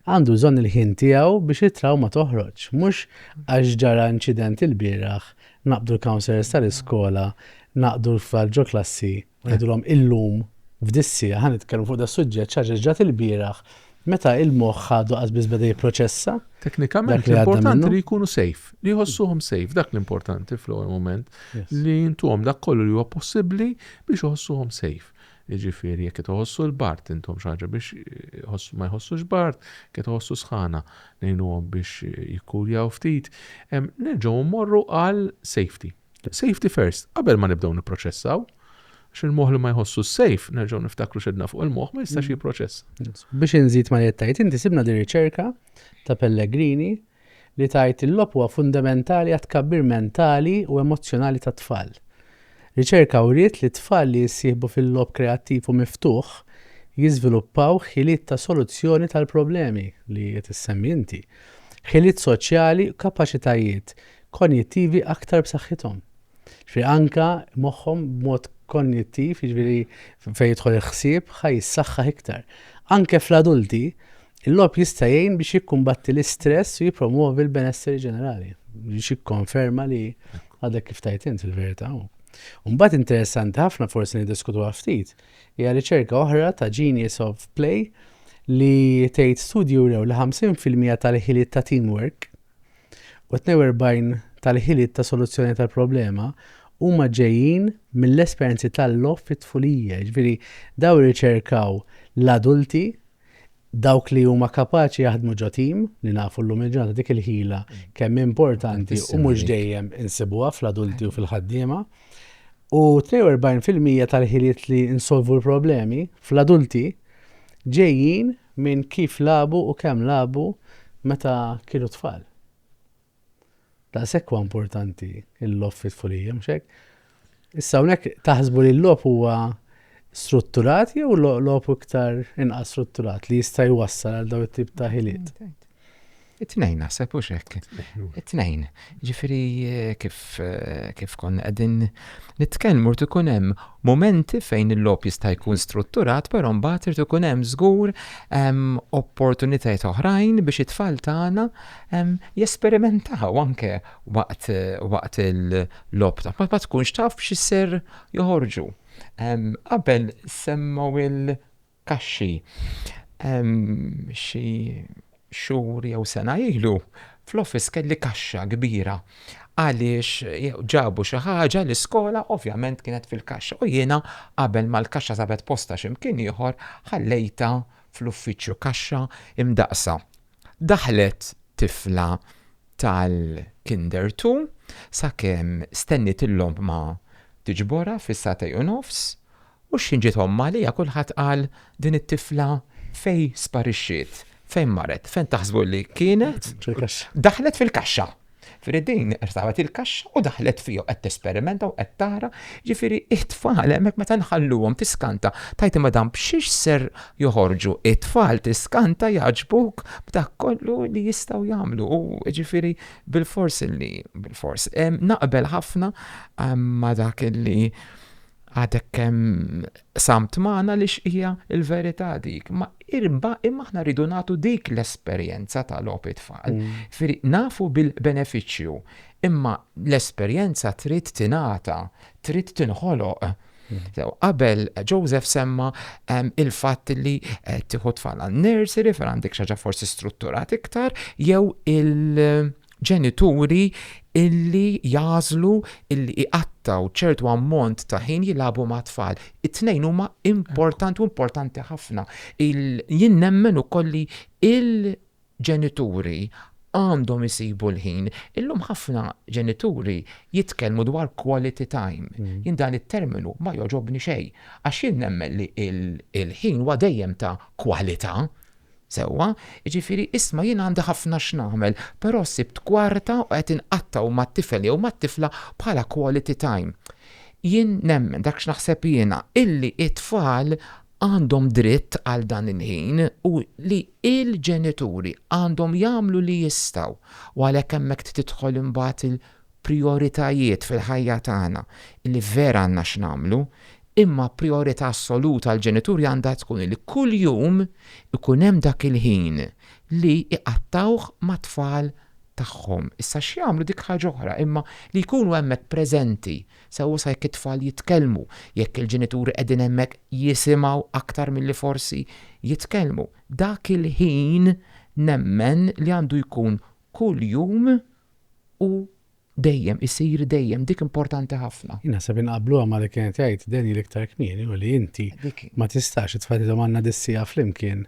Speaker 2: għandu bżonn il-ħin tiegħu biex it-trawma toħroġ. Mhux għax ġara inċident il-bieraħ, naqbdu l-counselors tal-iskola, naqdu l-tfal ġo klassi, ngħidulhom illum f'dis-siegħa ħa nitkellmu fuq da' suġġett xi ġrat il-bieraħ Meta il-moħħ għadu qas biss beda jipproċessa dak li għadda
Speaker 3: minnu. li jkunu safe, li jħossuhom safe, dak l-importanti fl-ewwel mument, li jintuhom dak kollu li huwa possibbli biex iħossuhom safe. Jiġifieri jekk qed iħossu l-bart intom xi ħaġa biex ma jħossux bart, qed iħossu sħana ngħinuhom biex jikkuljaw ftit. Nerġgħu mmorru għal safety. Safety first, qabel ma nibdew nipproċessaw, għax il-moħħ li ma jħossu s-safe, nerġgħu niftakru xedna fuq il-moħħ, ma jistax mm. jipproċessa. Biex inżid ma
Speaker 2: jettajt, inti sibna di riċerka ta' Pellegrini li tajt il-lob huwa fundamentali għat kabbir mentali u emozjonali ta' tfal. Riċerka uriet li tfal li jissieħbu fil-lob kreattiv u miftuħ jiżviluppaw ħiliet ta' soluzzjoni tal-problemi li qed issemmi inti. Ħiliet soċjali u kapaċitajiet konjittivi aktar b'saħħithom. Ġifieri anke moħħhom b'mod konjittiv, jiġifieri fejn jidħol il-ħsieb, ħa jissaħħaħ iktar. Anke fl-adulti, il-logħob jista' jgħin biex jikkumbatti l-istress u jippromwovi l-benesseri ġenerali. Biex jikkonferma li għadek kif tajt int il-verità. Mbagħad interessanti ħafna forsi niddiskutuha ftit, hija riċerka oħra ta' Genius of Play li tgħid studju rew li 50% tal-ħiliet ta' teamwork u 42 tal-ħiliet ta' soluzzjoni tal-problema huma ġejjin mill-esperjenzi tal-logħob fit-tfulija. Jiġifieri dawn irriċerkaw l-adulti dawk li huma kapaċi jaħdmu ġo tim li nafu llum il-ġurnata dik il-ħila kemm importanti u mhux dejjem insibuha fl-adulti u fil-ħaddiema. U 42% tal-ħiliet li nsolvu l-problemi fl-adulti ġejjin minn kif lagħbu u kemm lagħbu meta kienu tfal. Daqshekk huwa importanti l-logħob fit-tfulija, mhux hekk? Issa hawnhekk taħsbu li l-logħob huwa strutturat jew logħob iktar inqas strutturat li jista' jwassal għal dawn it-tip ta' ħiliet? It-tnejn
Speaker 4: naħseb hux hekk. It-tnejn. Ġifieri eh, kif eh, kif konna qegħdin nitkellmu rid ikun hemm momenti fejn il-logħob jista' jkun strutturat, però mbagħad irid ikun hemm żgur ehm, opportunitajiet oħrajn biex it-tfal tagħna ehm, jesperimentaw anke waqt eh, waqt il-logħob ta' ma tkunx taf x'isser joħorġu. Ehm, qabel semmaw il- kaxxi. Xi xhur jew sena ilu fl-office kelli kaxxa kbira għaliex ġabu xi ħaġa l-iskola ovvjament kienet fil-kaxxa u jiena qabel ma l-kaxxa sabet postha xi mkien ieħor ħallejtha fl-uffiċċju kaxxa imdaqqsa. Daħlet tifla tal-Kinder Two sakemm stenniet il-logħma tiġborha fis-sagħtej u nofs U x'ħin ġiet ommha għaliha kulħadd qal din it-tifla fejn sparixxiet, fejn marret, fejn taħsbu li kienet? Fil-kaxxa. Daħlet fil-kaxxa. Ġifieri din rtabet il-kaxxa u daħlet fija qed tesperimenta u qed tara, ġifieri t-tfal hemmhekk meta nħalluhom tiskanta, tgħid imma dan b'xiex ser joħorġu, it-tfal tiskanta jgħaġġbuk b'dak kollu li jistgħu jagħmlu u ġifieri bilfors li, bilfors. Naqbel ħafna ma' dak li Għadek kemm samt magħna li xqija il-verità dik, ma irba imma aħna rridu nagħtu dik l-esperjenza ta' logħob it-tfal. Mm. Nafu bil-benefiċċju, imma l-esperjenza trid tingħata, trid tinħoloq. Mm. Qabel Joseph semma il-fatt li eh, tieħu tfal għal nursery fejn għandek xaġa forsi strutturat iktar jew il- ġenituri illi jagħżlu illi iqattgħu ċertu ammont ta' ħin jilagħbu mat-tfal. It-tnejn huma importanti u importanti ħafna. Jien nemmen ukoll li il-ġenituri għandhom isibu l-ħin. Illum ħafna ġenituri jitkellmu dwar quality time. Mm. Jien dan it-terminu ma jogħġobni xejn għax jien nemmen li il-ħin huwa dejjem ta' kwalità. Sewwa, jiġifieri isma' jien għandi ħafna x'nagħmel, però sibt kwarta u qed inqatta' u mat-tifel jew mat-tifla bħala quality time. Jien nemmen, dak x'naħseb jiena, illi t-tfal għandhom dritt għal dan il-ħin u li l-ġenituri għandhom jagħmlu li jistgħu u għalhekk hemmhekk tidħol imbagħad prijoritajiet fil-ħajja tagħna li vera għandna x'nagħmlu, imma prijorità assoluta għall-ġenituri għandha tkun li kuljum ikun hemm dak il-ħin li jqattgħuh mat-tfal tagħhom. Issa x'jagħmlu dik ħaġa oħra, imma li jkunu hemmhekk preżenti, sewwa sa jekk it-tfal jitkellmu, jekk il-ġenituri qegħdin hemmhekk jisimgħu aktar milli forsi jitkellmu. Dak il-ħin nemmen li għandu jkun kuljum u dejjem, isir dejjem, dik importanti ħafna. Jien naħseb inqabbluha ma'
Speaker 2: li kienet jgħid Daniel iktar kmieni u li inti ma tistax, it-tfal jgħidhom għandna dis-siegħa flimkien,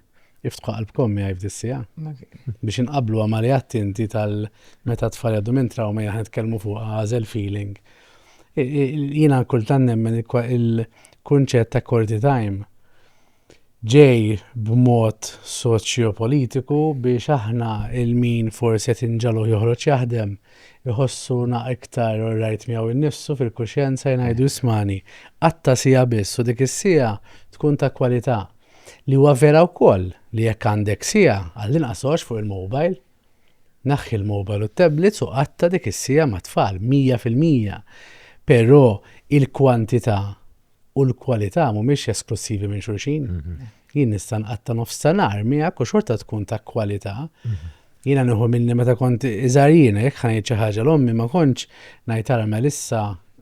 Speaker 2: iftħu qalbkom miegħi f'dis-siegħa. Biex inqabbluha ma' li għedt inti tal meta t-tfal jgħaddu minn trawma jien aħna nitkellmu fuqha għażel feeling. Jiena kultant nemmen il-kunċett ta' quality time ġej b'mod soċjopolitiku biex aħna il min forsi qed inġagħluh joħroġ jaħdem iħossu naq iktar orrajt miegħu innifsu fil-kuxjenza jngħidu ismagħni qatta' siegħa biss u dik is-siegħa tkun ta' kwalità li huwa vera wkoll li jekk għandek siegħa għallinqas għox fuq il-mobile naħħi l-mobile u t-tablets u qatta' dik is-siegħa mat-tfal 100% però il-kwantità u l-kwalità mhumiex esklussivi minn xulxin. Mhm. Jien nista' nqatta' nofs ta' nar miegħek u xorta tkun ta' kwalità. Mhm. Jiena nieħu minni meta kont iżgħar jiena jekk ħanejt xi ħaġa l-ommi ma kontx ngħid ara Melissa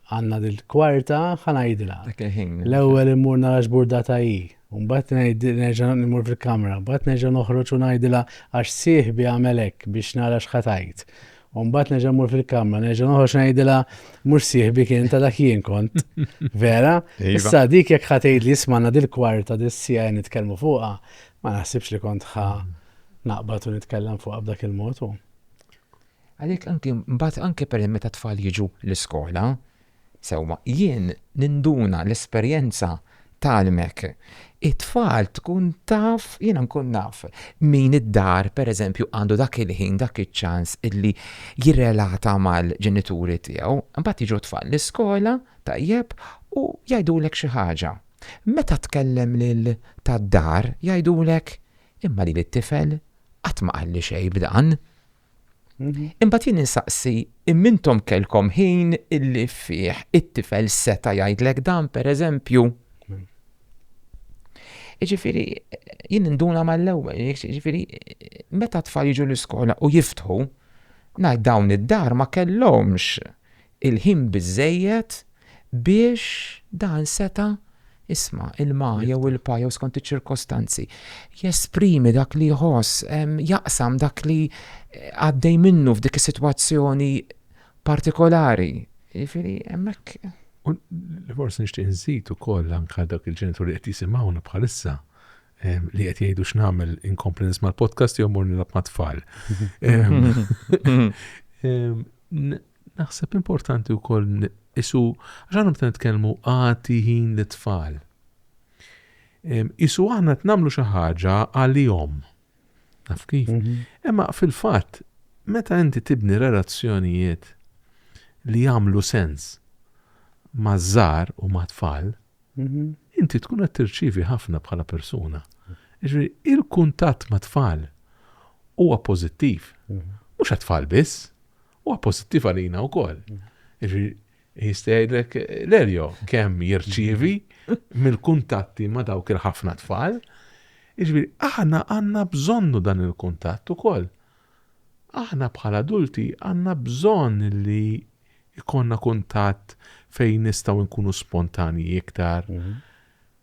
Speaker 2: għandna dil-kwarta ħanajdilha. L-ewwel immur nara x'burdata hi. Mbagħad ngħid nerġa' nimur fil-kamra, mbagħad nerġa' noħroġ u ngħidilha għax sieħbi għamel hekk biex nara x'ħatajt. U mbagħad nerġa' mmur fil-kamra, nerġa' noħroġ ngħidilha mhux sieħbi kien ta' dak jien kont. Vera? Iva. Issa dik jekk ħatejt li jismanna dil-kwarta dis-sija nitkellmu fuqha, ma naħsibx li kont ħa naqbad u nitkellem fuqha b'dak il-mod.
Speaker 4: Għalhekk anke mbagħad anke per meta tfal jiġu l-iskola, Sewwa, jien ninduna l-esperjenza tgħallmek. It-tfal tkun taf, jiena nkun naf min id-dar pereżempju għandu dak il-ħin, dak iċ-ċans illi jirrelata mal-ġenituri tiegħu. Imbagħad jiġu t-tfal l-iskola, tajjeb, u jgħidulek xi ħaġa. Meta tkellem lil tad-dar jgħidulek, imma lili t-tifel qatt ma qalli xejn b'dan. Imbagħad jien insaqsi, imma intom kellkom ħin illi fih it-tifel seta' jgħidlek dan, pereżempju? Jiġifieri jien induna mal-ewwel, jiġifieri meta t-tfal jiġu l-iskola u jiftħu, ngħid dawn id-dar ma kellhomx il-ħin biżżejjed biex dan seta' isma', ilma jew ilpa jew skont iċ-ċirkostanzi, jesprimi dak li jħoss, jaqsam dak li għaddej minnu f'dik is-sitwazzjoni partikolari. Jiġifieri hemmhekk. U
Speaker 3: li forsi nixtieq inżid ukoll anke għal dawk il-ġenituri li qed jisimgħuna bħalissa li qed jgħidu x'nagħmel inkompli nisma' l-podcast jew mmur nilgħab mat-tfal. Naħseb importanti wkoll qisu għax aħna meta nitkellmu agħti ħin lit-tfal. Qisu aħna qed nagħmlu xi ħaġa għalihom. Naf kif? Mhm. Imma fil-fatt, meta inti tibni relazzjonijiet li jagħmlu sens ma' żar u ma' tfal, mhm. inti tkun qed tirċivi ħafna bħala persuna. Ġifieri il-kuntatt ma' tfal huwa pożittiv. Mhm. Mhux għat-tfal biss, Huwa pożittiv għalina wkoll. Jistgħidlek l-Elio kemm jirċievi mill-kuntatti ma' dawk il-ħafna tfal. Iġbir, aħna għandna bżonnu dan il-kuntatt ukoll. Aħna bħala adulti għandna bżonn li ikonna kuntatt fejn nistgħu nkunu spontanji iktar, mhm.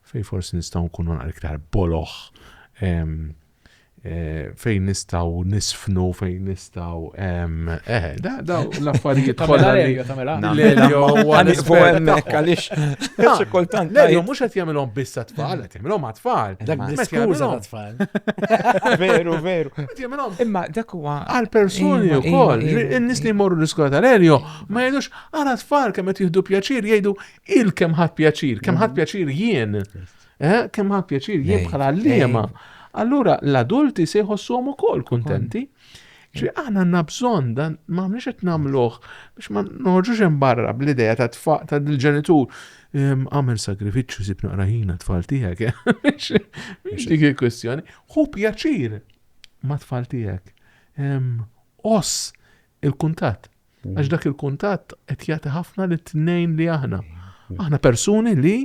Speaker 3: fejn forsi nistgħu nkunu naqra iktar boloħ, fejn nistaw nisfnu, fejn nistaw. Eh, da, da, l-affarijiet kollha.
Speaker 1: L-elio, għanis
Speaker 3: fuqemmek,
Speaker 4: għalix. Kultant. L-elio, mux għat jamilom
Speaker 3: bissa tfal, għat jamilom għat tfal. Dak diskuza għat
Speaker 2: tfal. Veru, veru.
Speaker 4: Imma
Speaker 3: dak huwa.
Speaker 4: Għal-personi u
Speaker 3: koll,
Speaker 4: n-nis li
Speaker 3: morru
Speaker 4: l-iskola
Speaker 3: tal-elio, ma jgħidux għara tfal kem għat jihdu pjaċir, jgħidu il-kem ħat pjaċir, kem ħat pjaċir jien. Eh, kemm ħa pjaċir jien bħala liema. Allura l-adulti se jħossuhom ukoll kuntenti. Ġi aħna għandna bżonn dan ma mniex qed nagħmluh biex ma noħorġux hemm barra bl-idea ta' tfaq ta' dil-ġenitur ehm, għamel sagrifiċċju sib naqra ħina tfal tiegħek. Eh? Mhix dik il-kwestjoni. Hu pjaċir ma' tfal tiegħek. Ehm, oss il-kuntatt Għax dak il-kuntatt qed jagħti ħafna li tnejn li aħna. Aħna persuni li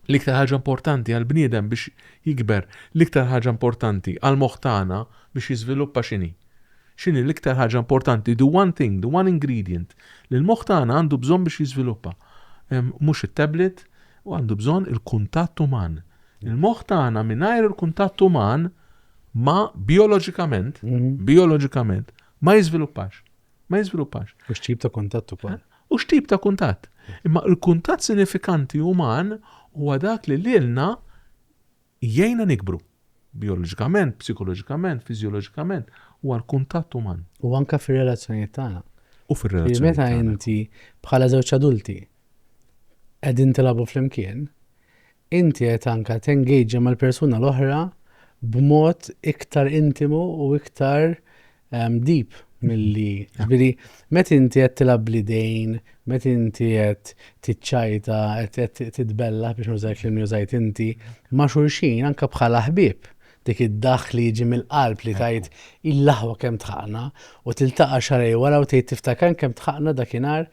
Speaker 3: l-iktar ħaġa importanti għal bniedem biex jikber, l-iktar ħaġa importanti għal moħtana biex jiżviluppa xini. Xini l-iktar ħaġa importanti, the one thing, the one ingredient li l-moħtana għandu bżonn biex jiżviluppa. Mhux it-tablet u għandu bżonn il-kuntatt uman. Il-moħtana mingħajr il-kuntatt uman ma bioloġikament, mhm. bioloġikament Ma jiżviluppax. Ma jiżviluppax. U x'tip ta' kuntatt
Speaker 2: ukoll. Eh? U x'tip ta' kuntatt.
Speaker 3: Imma l-kuntatt sinifikanti uman huwa dak li lilna jgħinna nikbru bioloġikament, psikoloġikament, fiżjoloġikament, huwa l-kuntatt uman. U anka fir-relazzjonijiet
Speaker 2: tagħna. U fir-relazzjonijiet.
Speaker 3: Meta inti
Speaker 2: bħala żewġ adulti qegħdin tilagħbu flimkien, Inti qed anke tengaġġa mal-persuna l-oħra b'mod iktar intimu u iktar deep milli, jiġifieri meta inti qed tilgħab bl-idejn, meta inti qed tiċċajta, qed titbellaħ biex nuża l-kliem li użajt inti, ma' xulxin anke bħala ħbieb, dik id-daħk li jiġi mill-qalb li tgħid il-aħwa kemm tħaqna u tiltaqa' xahrejn wara u tgħid tiftakar kemm tħaqna dakinhar,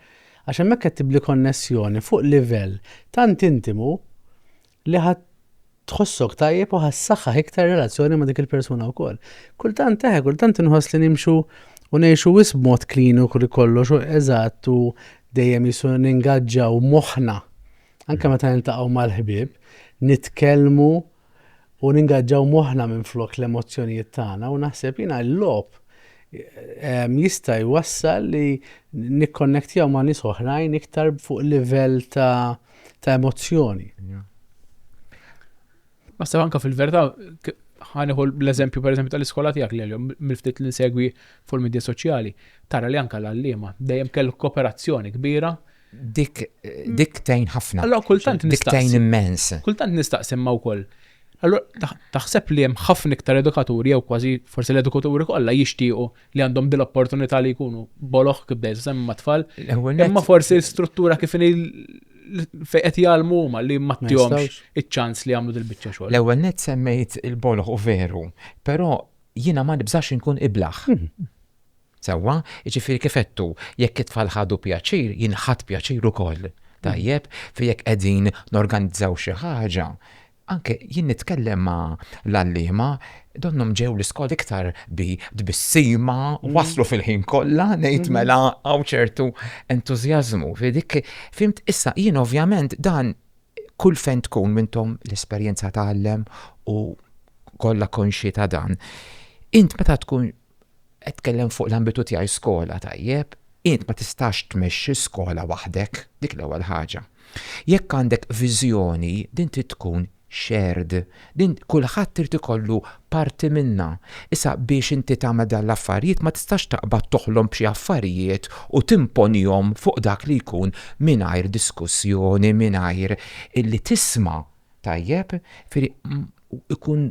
Speaker 2: Għax hemmhekk qed tibni konnessjoni fuq livell tant intimu li ħa tħossok tajjeb u ħa ssaħħaħ iktar relazzjoni ma' dik il-persuna wkoll. Kultant eħe, kultant inħoss li nimxu u ngħixu wisq b'mod kliniku li kollox u eżatt u dejjem jisu ningaġġaw moħħna. Anke meta niltaqgħu mal-ħbieb, nitkellmu u ningaġġaw moħħna minflok l-emozzjonijiet tagħna u naħseb jiena l-logħob ehm, jista' jwassal li nikkonnektjaw ma' nies oħrajn iktar fuq livell ta' ta' emozzjoni.
Speaker 1: Naħseb anka fil-verità ħaniħu l-eżempju per eżempju tal-iskola tiegħek li l-jom mill-ftit li nsegwi fuq il-medja soċjali, tara li anka l-għalliema dejjem kellu kooperazzjoni kbira Dik
Speaker 4: dik tgħin ħafna. Allura kultant nistaqsi. Dik tgħin
Speaker 1: immens.
Speaker 4: Kultant nistaqsi imma
Speaker 1: wkoll. Allura taħseb li hemm ħafna iktar edukaturi jew kważi forsi l-edukaturi kollha jixtiequ li għandhom din l-opportunità li jkunu boloħ kif dejjem semmi mat-tfal. Imma forsi l-struttura kif fejn qed jgħalmu huma li ma tihomx iċ-ċans li jagħmlu dil-biċċa xogħol. L-ewwel net semmejt
Speaker 4: il-boloħ u veru, però jiena ma nibżax inkun iblaħ. Sewwa, jiġifieri kif għedtu, jekk it-tfal ħadu pjaċir, jien ħadt pjaċir ukoll. Tajjeb? Fi jekk qegħdin norganizzaw xi ħaġa, anke jien nitkellem ma' l-għalliema, donnhom ġew l-iskola iktar bi tbissima, waslu fil-ħin kollha, ngħid mela hawn ċertu entużjażmu. Fi dik, fhimt? Issa, jien ovvjament dan kull fejn tkun intom l-esperjenza tgħallem u kollha konxji ta' dan. Int meta tkun Qed tkellem fuq l-ambitu tiegħi skola, tajjeb. Int ma tistax tmexxi skola waħdek, dik l-ewwel ħaġa. Jekk għandek viżjoni, din trid tkun shared. Din kulħadd irid ikollu parti minnha. Issa biex inti tagħmel dawn l-affarijiet ma tistax taqbad toħlom b'xi affarijiet u timponihom fuq dak li jkun mingħajr diskussjoni, mingħajr illi tisma', tajjeb? Jifieri ikun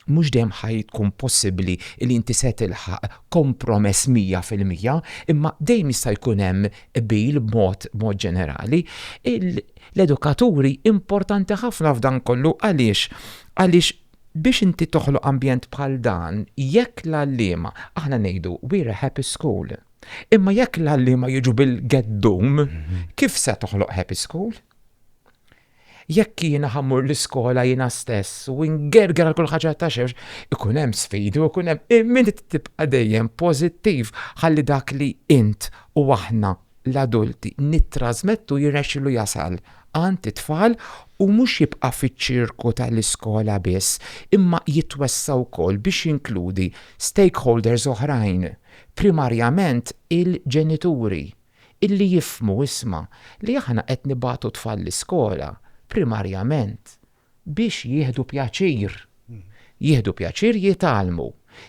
Speaker 4: Mhux dejjem ħa tkun possibbli li inti se tilħaq kompromess mija fil-mija, imma dejjem jista' jkun hemm qbil b'mod b'mod ġenerali. L-edukaturi importanti ħafna f'dan kollu għaliex? Għaliex biex inti toħloq ambjent bħal dan, jekk l-għalliema, aħna ngħidu we're a happy school, imma jekk l-għalliema jiġu bil-geddum, kif se toħloq happy school? Jekk jiena ħa mmur l-iskola jiena stess u ngerger għal kull ħaġa ta' xewx, ikun hemm sfidi u jkun hemm, imma inti trid tibqa' dejjem pożittiv ħalli dak li int u aħna, l-adulti, nittrasmettu jirnexxilu jasal għand it-tfal u mhux jibqa' fiċ-ċirku tal-iskola biss, imma jitwessa' wkoll biex jinkludi stakeholders oħrajn, primarjament il-ġenituri. illi jifhmu, isma', li aħna qed nibagħtu t-tfal l-iskola, primarjament, biex jieħdu pjaċir. Jieħdu pjaċir jitgħallmu.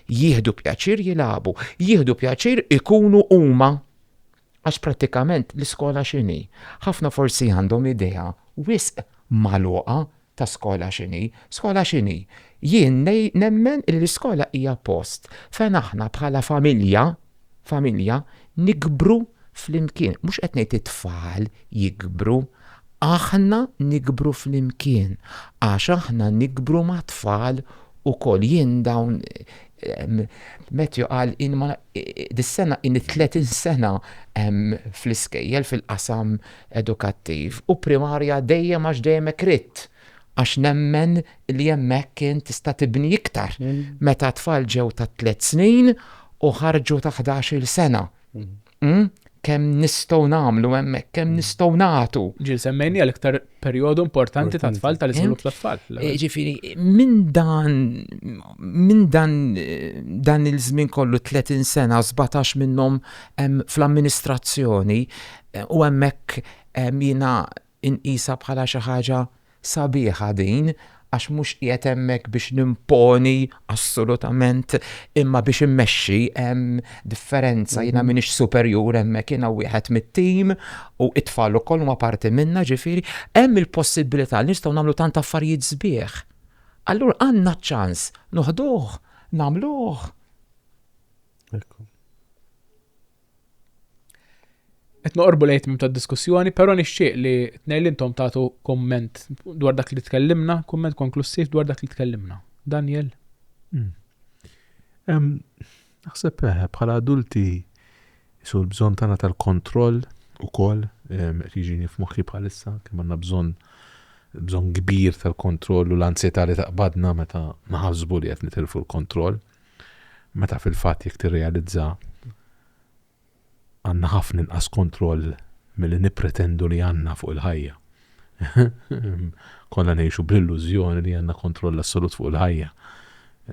Speaker 4: Jieħdu pjaċir jilagħbu. Jieħdu pjaċir ikunu huma. Għax prattikament l-iskola x'inhi? Ħafna forsi għandhom idea wisq magħluqa ta' skola x'inhi. Skola x'inhi? Jien nemmen illi skola hija post fejn aħna bħala familja, familja, nikbru flimkien. Mhux qed ngħid it-tfal jikbru, aħna nikbru flimkien għax aħna nikbru mat-tfal ukoll. Jien dawn Matthew qal dis-sena in it-30 sena fl-iskejjel fil-qasam edukattiv u primarja dejjem għax dejjem hekk ridt għax nemmen li hemmhekk int tista' tibni iktar meta t-tfal ġew ta' tliet snin u ħarġu ta' ħdax-il sena. Kemm nistgħu nagħmlu hemmhekk, kemm nistgħu nagħtu. Ġieli semmejniha l-iktar
Speaker 1: perjodu importanti tat-tfal tal-iżvilupp tat-tfal. Jiġifieri
Speaker 4: minn dan minn dan dan il-żmien kollu 30 sena sbatax minnhom hemm fl-amministrazzjoni U hemmhekk jiena nqisha bħala xi ħaġa sabiħa din għax mhux qiegħed hemmhekk biex nimponi assolutament imma biex immexxi hemm differenza jiena mhm. m'iniex superjur hemmhekk jiena wieħed mit-tim u it-tfal ukoll huma parti minna ġifieri hemm il-possibilità li nistgħu nagħmlu tant affarijiet sbieħ. Allura għandna ċans noħduh, nagħmluh. Ekku.
Speaker 1: Qed noqorbu lejn tmim tad-diskussjoni, però nixtieq li tnej li intom tagħtu kumment dwar dak li tkellimna, kumment konklussiv dwar dak li tkellimna. Daniel? Hmm.
Speaker 3: Naħseb eh, bħala adulti jisu l-bżonn tagħna tal-kontroll ukoll qed jiġini f'moħħi bħalissa kemm għandna bżonn bżonn kbir tal-kontroll u l-ansjetà li taqbadna meta naħasbu li qed nitilfu l-kontroll. Meta fil-fatt jekk tirrealizza għandna ħafna inqas kontroll milli nippretendu li għandna fuq il-ħajja. Konna ngħixu bl-illużjoni li għandna kontroll assolut fuq il-ħajja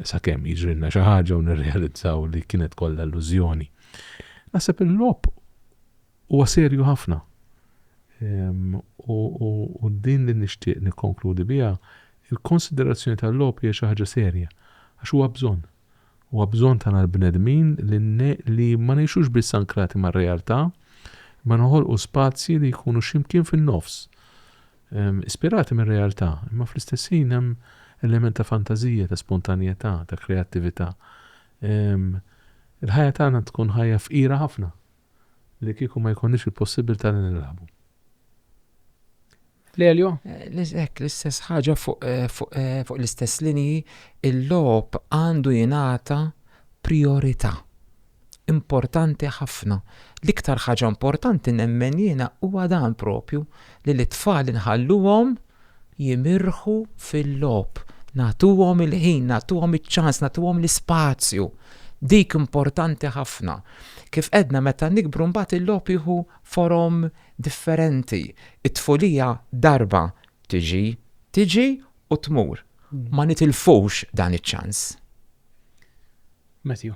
Speaker 3: sakemm jiġrilna xi ħaġa u nirrealizzaw li kienet kollha illużjoni. Naħseb il-logħob Huwa serju ħafna. U din li nixtieq nikkonkludi biha, il-konsiderazzjoni tal-logħob hija xi ħaġa serja, għax huwa bżonn. Huwa bżonn tagħna l-bnedmin li ma ngħixux biss ankrati mar-realtà, imma noħolqu spazji li jkunu xi mkien fin-nofs, ispirati mir-realtà, imma fl-istess ħin hemm element ta' fantażija, ta' spontanjetà, ta' kreattività. Il-ħajja tagħna tkun ħajja fqira ħafna li kieku ma jkollniex il-possibilità li nilagħbu.
Speaker 1: Lelio? Hekk l-istess
Speaker 4: ħaġa fuq l-istess linji, il-logħob għandu jingħata priorità. Importanti ħafna. L-iktar ħaġa importanti nemmen jiena huwa dan propju li lit-tfal inħalluhom jimirħu fil-logħob, nagħtuhom il-ħin, nagħtuhom iċ-ċans, nagħtuhom l-ispazju. Dik importanti ħafna. Kif għedna meta nikbru mbagħad il-logħob jieħu forom differenti. It-tfulija darba tiġi, tiġi u tmur. Ma nitilfux dan iċ-ċans.
Speaker 1: Matthew.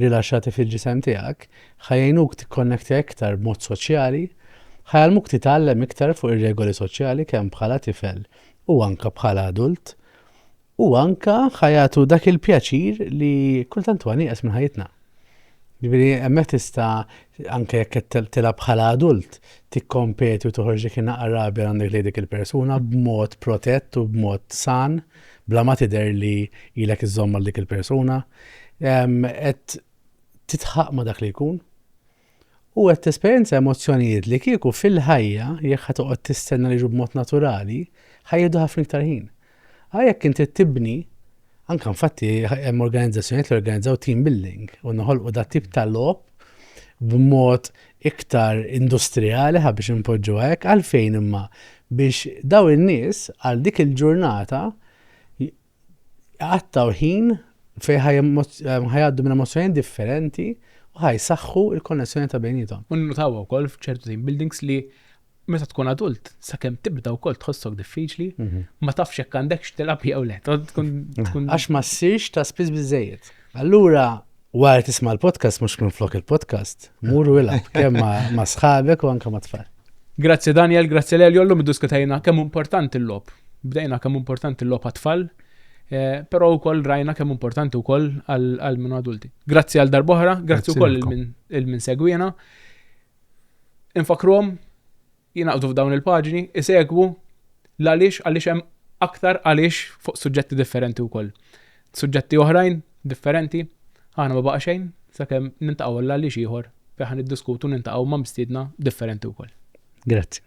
Speaker 2: rilaxxati fil-ġisem tiegħek ħa jgħinuk tikkonnektja iktar b'mod soċjali, ħa jgħallmuk titgħallem iktar fuq ir-regoli soċjali kemm bħala tifel u anke bħala adult, u anke ħa jagħtu dak il-pjaċir li kultant huwa nieqes minn ħajjitna. Ġifieri hemmhekk tista' anke jekk qed tilgħab bħala adult tikkompeti u toħorġ dik inaqra rabja għandek lejn dik il-persuna b'mod protett u b'mod san. bla ma tidher li ilek iżżomm għal dik il-persuna, qed titħaq ma' dak li jkun u qed tesperjenza emozzjonijiet li kieku fil-ħajja jekk ħa toqgħod tistenna li b'mod naturali ħajjedu ħafna iktar ħin. Għajek inti tibni Anka infatti hemm organizzazzjonijiet li organizzaw team building u noħolqu dat tip ta' logħob b'mod iktar industrijali, ħa biex inpoġġuha hekk, għalfejn imma? Biex dawn in-nies għal dik il-ġurnata jqattgħu ħin fejn ħajgħaddu minn emozzjonijiet differenti u ħajsaħħu l-konnessjoni ta' bejniethom. U nnutaw ukoll
Speaker 1: f'ċertu team buildings li meta tkun adult, sakemm tibda wkoll tħossok diffiċli, mhm. ma tafx hekk għandekx tilab jew le. Għax ma
Speaker 2: ssirx ta' spiss biżejjed. Allura wara tisma' l-podcast mhux minn flok il-podcast, muru ilab kemm ma' sħabek u anke ma' tfal. Grazzi Daniel,
Speaker 1: grazzi Lelio, l-lum diskutajna kemm importanti l-lob. Bdejna kemm importanti l-lob għat-tfal, eh, però wkoll rajna kemm importanti wkoll għal minn adulti. Grazzi għal darbohra, grazzi wkoll il-min segwina. Infakkruhom jingħaqdu f'dawn il-paġni, isegwu l-għaliex għaliex hemm aktar għaliex fuq suġġetti differenti wkoll. Suġġetti oħrajn differenti aħna ma baqa' xejn sakemm niltaqgħu għal għaliex ieħor fejn ħa niddiskutu niltaqgħu ma'
Speaker 2: mistiedna
Speaker 1: differenti wkoll. Grazzi.